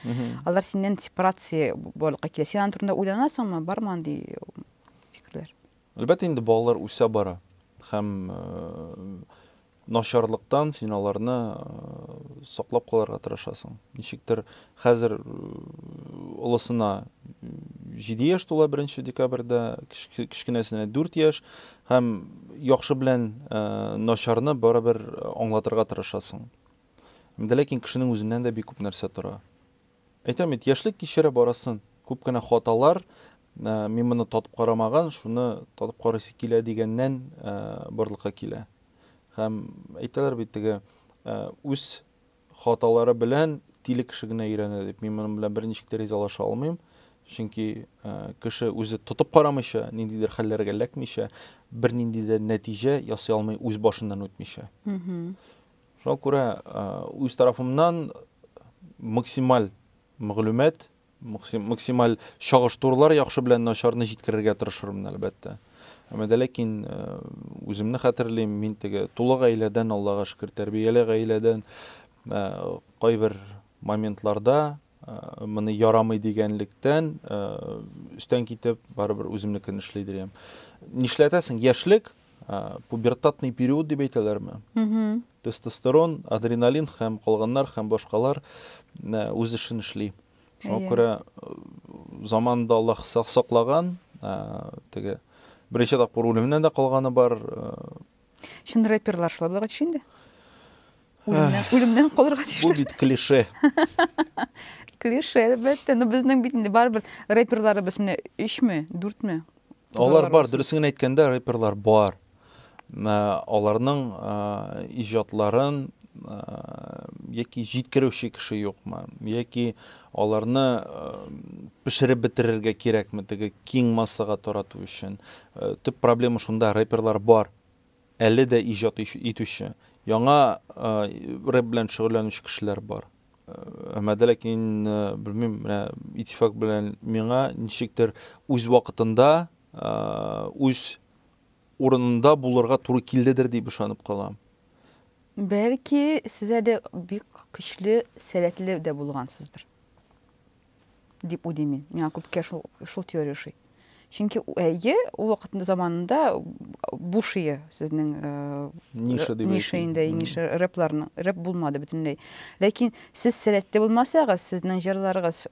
Алар синнән сепарация барлыкка килә. Син аның турында уйланасыңмы, бармы андый фикерләр? Әлбәттә инде балалар үсә бара һәм э, начарлыктан син аларны саклап калырга тырышасың. Ничектер хәзер олысына 7 яшь тула 1 декабрьдә, кечкенәсенә 4 яшь һәм яхшы белән начарны барыбер аңлатырга тырышасың. Ләкин кешенең үзеннән дә бик күп нәрсә тора. Әйтәм бит, яшьлек кичерә барасын. Күп кенә хаталар, мин моны татып карамаган, шуны татып карыйсы килә дигәннән барлыкка килә. Һәм әйтәләр бит теге үз хаталары белән тиле кеше генә өйрәнә дип. Мин моның белән берничек тә ризалаша алмыйм. Чөнки кеше үзе тотып карамыйча, ниндидер хәлләргә эләкмичә, бернинди дә нәтиҗә ясый алмый үз башыннан үтмичә. Шуңа күрә үз тарафымнан максималь мәгълүмат, максималь чагыштырулар яхшы белән начарны җиткерергә тырышырмын, әлбәттә. Әмма дә ләкин үземне хәтерлим, мин теге тулы гаиләдән, Аллага шөкер, тәрбияле гаиләдән кайбер моментларда моны ярамый дигәнлектән өстән китеп барыбер үземнекен эшли дирем нишләтәсең яшьлек пубертатный период дип әйтәләрме тестостерон адреналин һәм калганнар һәм башкалар үз эшен эшли шуңа иә. күрә заманында аллаһ саклаган теге беренче тапкыр үлемнән дә калганы бар Чын рэперлар шулай булырга тиеш инде. Үлемнән, үлемнән калырга тиеш. Бу бит клише. клише, әлбәттә. Но безнең бит инде барыбер рэперларыбыз менә 3 ме, 4 ме? Алар бар, дөресен әйткәндә, рэперлар бар. Аларның иҗатларын яки җиткерүче кеше юкмы, яки Аларны пешереп бетерергә кирәкме теге киң массага тарату өчен? Төп проблема шунда, рэперлар бар, әле дә иҗат итүче, яңа рэп белән шөгыльләнүче кешеләр бар. Әмма дә ләкин, белмим, менә Итифак белән миңа ничектер үз вакытында, үз урынында булырга туры килдедер дип ышанып калам. Бәлки, сез әле бик көчле сәләтле дә булгансыздыр, дип уйлыйм мин. Миңа күпкә шул, шул теория ошый. Чөнки, әйе, ул вакытында заманында бу шие сезнең ниша дип ниша инде, ниша рэпларның, рэп булмады бөтенләй. Ләкин сез сәләтле булмасагыз, сезнең җырларыгыз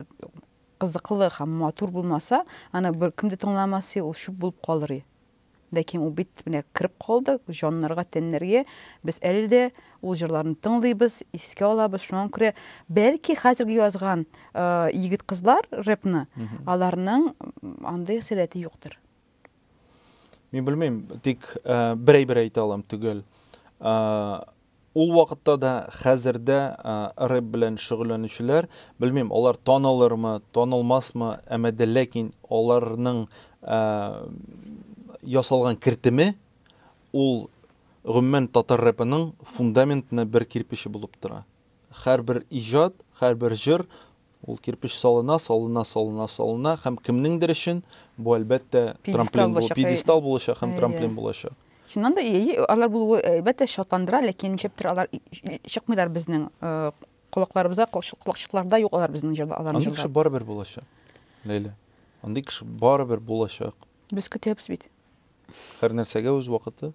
кызыклы һәм матур булмаса, аны беркем дә тыңламас, ул чүп булып калыр. Ләкин ул бит менә кереп калды җаннарга, тәннәргә. Без әле дә ул җырларны тыңлыйбыз, искә алабыз. Шуңа күрә бәлки хәзерге язган егет-кызлар рэпны, аларның андый сәләте юктыр. Мин белмим, тик бер әйбер әйтә алам, төгәл. Ул вакытта да, хәзер дә рэп белән шөгыльләнүчеләр, белмим, алар танылырмы, танылмасмы, әмма дә ләкин аларның ясалган кертеме, ул гомумән татар рэпының фундаментны бер кирпече булып тора. Хәрбер иҗат, хәрбер җыр Ул кирпеч салына, салына, салына, салына һәм кемнеңдер өчен бу, әлбәттә, трамплин булачак, пьедестал булачак һәм трамплин булачак. Чыннан да, алар булуы, әлбәттә, шатландыра, ләкин ничектер алар чыкмыйлар безнең колакларыбызга, колакчыкларда юк алар безнең җырда, алар җырда. Андый кеше барыбер булачак, Ләйлә. Андый кеше барыбер булачак. Без көтәбез бит. Һәр нәрсәгә үз вакыты.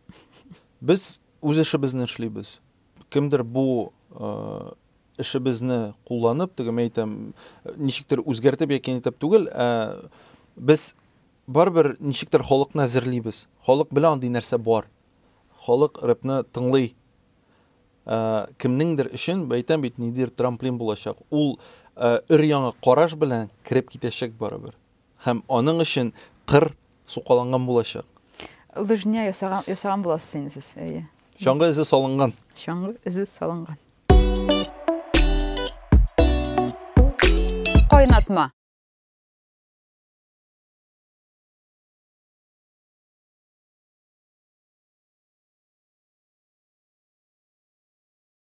Без үз эшебезне эшлибез. Кемдер бу эшебезне кулланып, теге мен әйтәм, ничектер үзгәртеп яки нитеп түгел, ә без барыбер ничектер халыкны әзерлибез. Халык белә андый нәрсә бар. Халык рэпны тыңлый. Ә, кемнеңдер өчен, әйтәм бит, нидер трамплин булачак. Ул өр-яңа караш белән кереп китәчәк барыбер. Һәм аның өчен кыр сукаланган булачак. Лыжня ясаган, ясаган буласыз инде сез, әйе. Чаңгы эзе салынган. Чаңгы эзе салынган. Кайнатма.